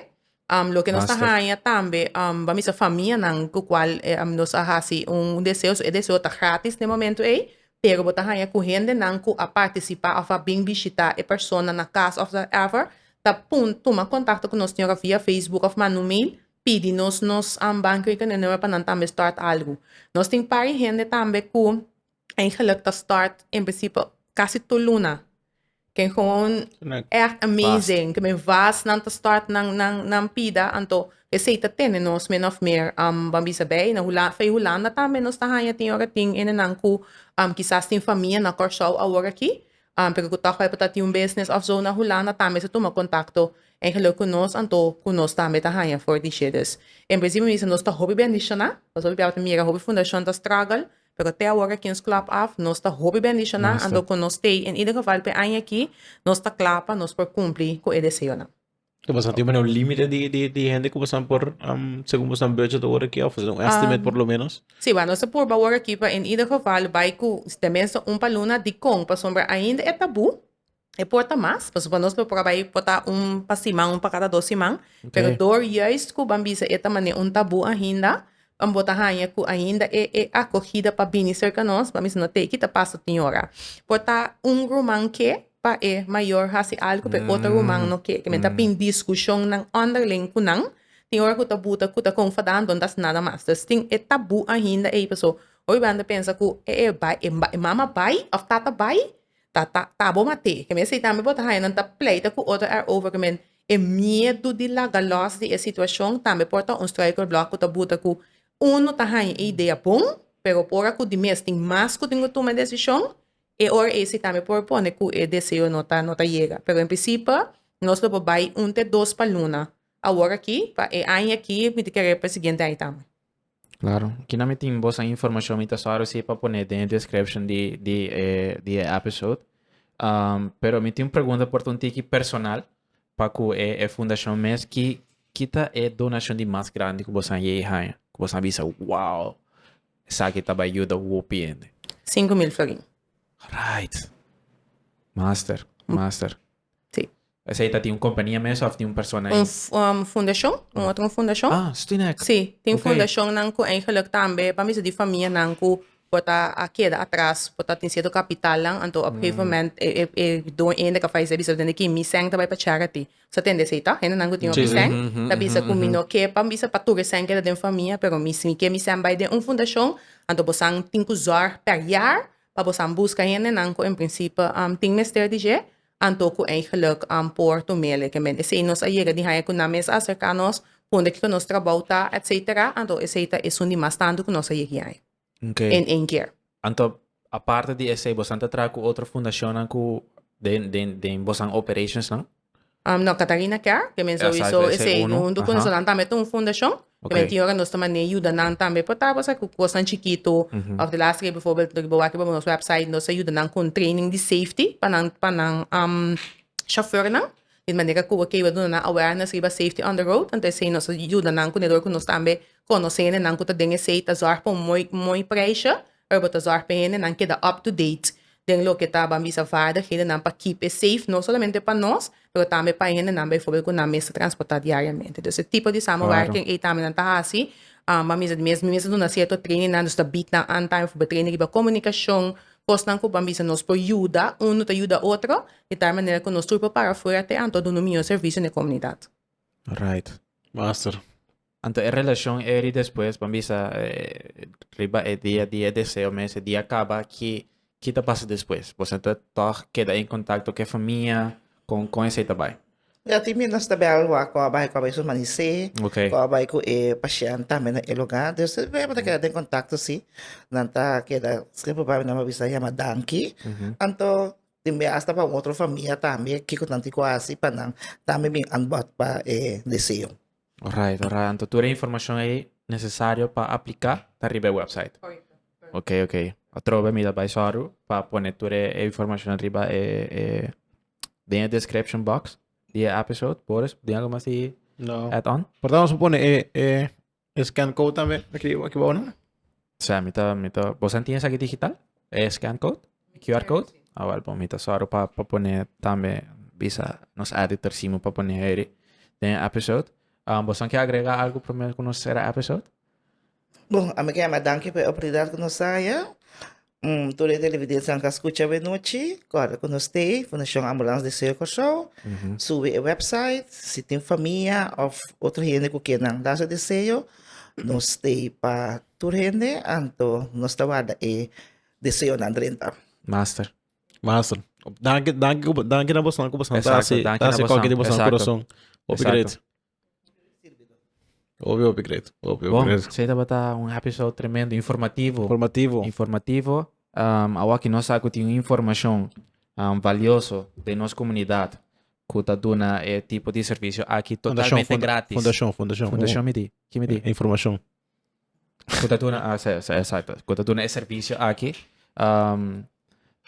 Um, lo que nos Basta. haña tambe, um, vamos a familianan cu cual eh, um, nos a haci un deseo, so e deseo está gratis en el momento ahí, pero bota haña cu gente nan cu a participar of a bin visita e persona na casa of whatever, ta pun, toma contacto con nos señora via Facebook of manu mail, pidi nos nos um, bankrekening nummer pa nan tambe start algo. Nos tin pari gente tambe cu Eigenlijk ta start in principe casi tur luna. Ken gewoon echt amazing. Ken men vast nan ta start nan, nan, nan pida. Anto, e sei ta tene nos min of meer um, ban bisa bay. Na Hula, Fey Hulanda tambe nos ta hanja tin ora tin ene nan cu um, kisas tin famia na Curaçao awor aki. Um, pero cu toch tabata tin un business of zo na Hulanda tambe sa tuma contacto eigenlijk cu nos. Anto, cu nos tambe ta hanja for dishé. Dus, in principe mi bisa nos ta hopi bendiciona. Pas hopi biaha ta mira hopi fundacion ta struggle. Pero te awor kings club af nos ta hopi bendishoná ando ku nos stay en ieder geval p'e aña aki nos ta kla pa nos por kumpli ku e deseonan. Ta pasá tempu na un límite di di di hende ku boso por segun boso budget awor aki òf un estimate por lo menos? Si wèr nos ta purba awor aki pa en ieder geval bai ku tenmenste un pa luna dikon pasobra ainda e tabú. E por ta mas, pasobra nos lo proba ei por ta un pa siman, un pa kada dos siman, pero dor juist ku ban bisa e ta mane un tabu ainda, ban bo ta haña ku ainda e e akogida pa bini serka nos, ban bisa no te ki ta pasa tin ora. Por ta un ruman ke pa e mayor hasi algu pa e otro ruman no ke, ke men ta bin diskushonnan ònderling ku nan, tin ora ku ta buta ku ta konfada anto no ta hasi nada mas. Pues tin e tabu ainda ei, paso ora bo anda pensa ku e e bai, e mama bai òf tata bai? ta ta ta bo mate ke men eseitan bo ta haña nan ta pleita ku otro ar over ke men e miedu di laga lòs di e situashon tambe por ta un struikelblok ku ta buta ku unu ta haña e idea bon pero por ora ku di mes tin mas ku tin ku tuma e desishon e ora ei si tambe por pone ku e deseo no ta no ta yega pero en prisipe nos lo por bai un te dos pa luna awor aki pa e aña aki miti kere pa e siguiente aña tambe. Claro, aquí na mi tin bosa información mi ta só reci pa poner den description di di eh, di eh episode. Um, pero mi tin un pregunta por un tiki personal pa cu eh, eh fundación mes ki kita eh donación di mas grande cu bosan ye haya. Cu bosan bisa wow, saki ta bai yuda hopi ende. 5 mil florin. Right. Master, master. Sí. Esei ta tin un kompania mes òf tin un persona ahí? Un fundashon, un otro fundashon. Ah, Stinek. Sí, tin fundashonnan ku eigenlik tambe pa mester di famianan ku por ta a keda atras por ta tin sierto kapitalnan, anto op gegeven moment e doño ende ku a falesé a bisa, tende ki mi sèn ta bai pa charity. Sa tende esei tò? Hendenan ku tin hopi sèn ta bisa ku mi no ke pa bisa pa tur e sèn keda den famia, pero mi si mi ke mi sèn bai den un fundashon, anto bosan tin ku zòrg per yar pa bosan buska hendenan ku en prinsipio tin mester di dje Anto cu ei geluk an por Tomele ke men esey nos a yega di haña cu nan mes a acerca nos, punde kiko nos trabou ta, etc. Anto esey ta esun di mas tantu cu nos a yegi haña. Oke. En een kier. Anto aparte di esey bosan ta traha cu otro fundacionnan cu den den den bosan operations nan? No, Catarina Kerr, ke men Exacto, sowieso esey esey uno. huntu cu Aha. nesonan tambe ta un fundacion. Tambe tin ora nos ta manera yuda nan tambe por tabata sa ku kosnan chikitu òf di lasta ke biforbel loke bo wak riba nos wèpsait nos a yuda nan kon training di safety pa nan pa nan shofèrnan di manera ku bo ke duna nan awareness riba safety on the road anto esei nos a yuda nan ku nedor ku nos tambe konosé nenan ku ta den esei ta zòrg pa un moi moi preisha. Urbo ta zorg pa hendenan keda up to date den loke ta ban bisa vaardighedennan pa keep e safe, no solamente pa nos, pero tambe pa e hendenan bijvoorbeeld ku nan mester transportá diariamente. Dus e tipo di samenwerking ei tambe nan ta hasi. Ban bisa di mes, mi mes a duna cierto trainingnan, dus ta bied nan antaño, bijvoorbeeld training riba comunicacion, cosnan cu ban bisa nos por yuda uno ta yuda otro, di tal manera cu nos tur por para afuera te anto duna un miñor servicio n'e comunidad. Right. Master. Anto e relacion eri despues bo a bisa riba e dia di e deseo mes e dia caba ki ki ta pasa despues? Boso anto tog keda en contacto cu e famia? Con con esey ta bay? Ya tin bira nos ta bel wak cu a bay cu a bay su mani sey Okay. cu a bay cu e pashent tambe na e lugar dus tin bira bo ta keda den contacto si nan ta keda siempre bay nan bo a bisa yama danki anto tin bira hasta pa un otro famia tambe kico nan tin cu a hasi pa nan tambe bin anbod pa e deseo. Orait orait anto tur e informashon ei nesesario pa apliká ta riba e wèpsait. Oke oke atrobe mi ta bai sòru pa pone tur e informashon riba e e den e description box di e episode. Boris tin algu mas di No. add on? Por ta nos a pone e e e scan code tambe aki aki bou no? O sea, mi ta, mi ta, bosan tin esaki digital? E scan code? E QR code? Sí. Ah, wel, bon, mi ta sòru pa, pa pone tambe, bisa nos editor Simo pa pone heri den e episode. Um, bosan ke agrega algu promé ku nos sera e episode? Bon, ami ke ama danki pa e oportunidat ku nos a haya. Mm, tur e televidentenan ku a skucha bo e nochi, kòrda ku nos tei Fundashon Ambulans di Seo Kòrsou. Subi e website, si tin famia òf otro hende ku ke nan Lazo di Seo, Nos te pa tur hende anto nos ta warda e deseonan drenta. Master. Master. Danki, danki, ku- danki na bosan ku bosan ta Exacto, hasi, danki ta na hasi bosan, koki di bosan exacto. kurason. Hopi Exacto. great. Hopi, hopi great. Hopi, hopi Bon, great. esei tabata un episode tremendo, informativo. Informativo. informativo. Um, awaki nos sa ku tin un informashon um, valioso den nos komunidat. ku ta duna e tipo di servisio aki totalmente gratis. Fundashon, fundashon. Fundashon mi di? Ki mi di? Informashon. Ku ta duna, ah, sa, sa, esakto. Ku ta duna e servisio aki. Um,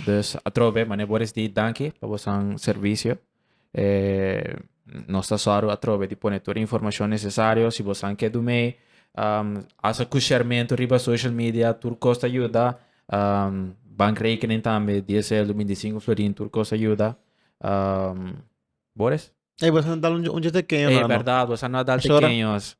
dus atrobe, mane Boris di danki pa bosan servisio. Eh, nos ta sorry atrobe di pone tur informashon nesesario. Si bosan ke du mei, um, asa ku shermento riba social media, tur kos ta yuda. Um, bankrekening tambe, DSL, du binti sinku florin, tur kos ta yuda. Um, Boris? Ei, bosa no dal un, un tekeño, Ei, no, verdad, bosa no dal tekeños.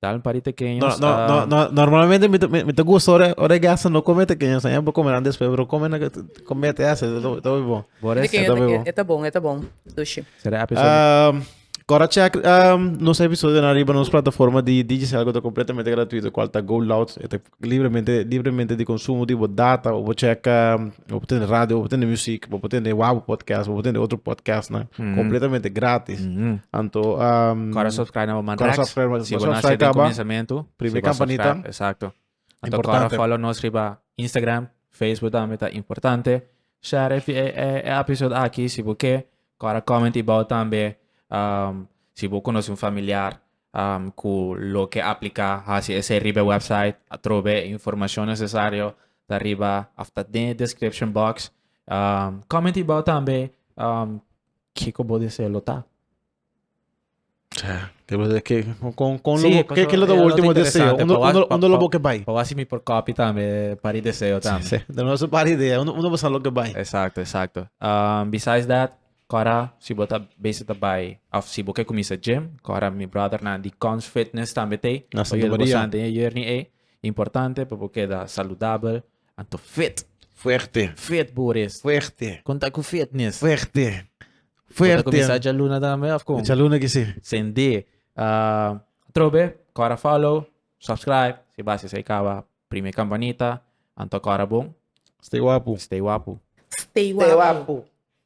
Dal un pari tekeños. No, no, no, no, normalmente mi, mi, mi te gusta ora, ora gasta no come tekeños. Saya por comer después, pero come na come te hace, todo todo bon. Boris, todo bon. Eta bon, eta bon. Sushi. Será episode. Um, Cora check um, nos episodio na arriba nos plataforma de Digicel que está completamente gratuito, cual está Go Loud, está Libremente libremente di konsumo di bo data o bo chèka bo por tende radio bo por tende muzik bo por tende Wabo Podcast bo por tende otro podcastnan kompletamente grátis anto Kòrda subskrai na bo man Kòrda subskrai na bo man si bo no a hasié den kuminsamentu prime kampanita exacto anto kòrda fòlo nos riba Instagram Facebook tambe ta importante share e e episode aki si bo ke kòrda kòmenti bou tambe si bo konosé un familiar. ku loke apliká hasi esei riba e website atrobe e informashon nesesario ta riba òf ta den e description box. Comment ibou tambe kiko bo deseo lo ta. Kiko lo ta bo último deseo? Unda lo bo ke bai? Pa wòs mi por kòpi tambe par di deseo tambe. Duna nos un par idea unda bo sa lo ke bai. Exacto exacto. Besides that Kora si bo ta bese ta bai of si bo ke kuminsa gym, kora mi brothernan di Kons Fitness tambe tei Na pa yuda bo Santamaria. sante e journey ei. Importante pa bo keda saludabel, anto fit, Fuerte, fit bo por es. fuerte, Kon ta ku fitness? fuerte, Bo ta kuminsa fuerte. djaluna tambe of kon? Djaluna aki si. Sende. Ah, trobe, kora follow, subscribe, si bas esei kaba prime kampanita, anto kora bon, Stay wapu. stay wapu. Stay Stay wapu. wapu.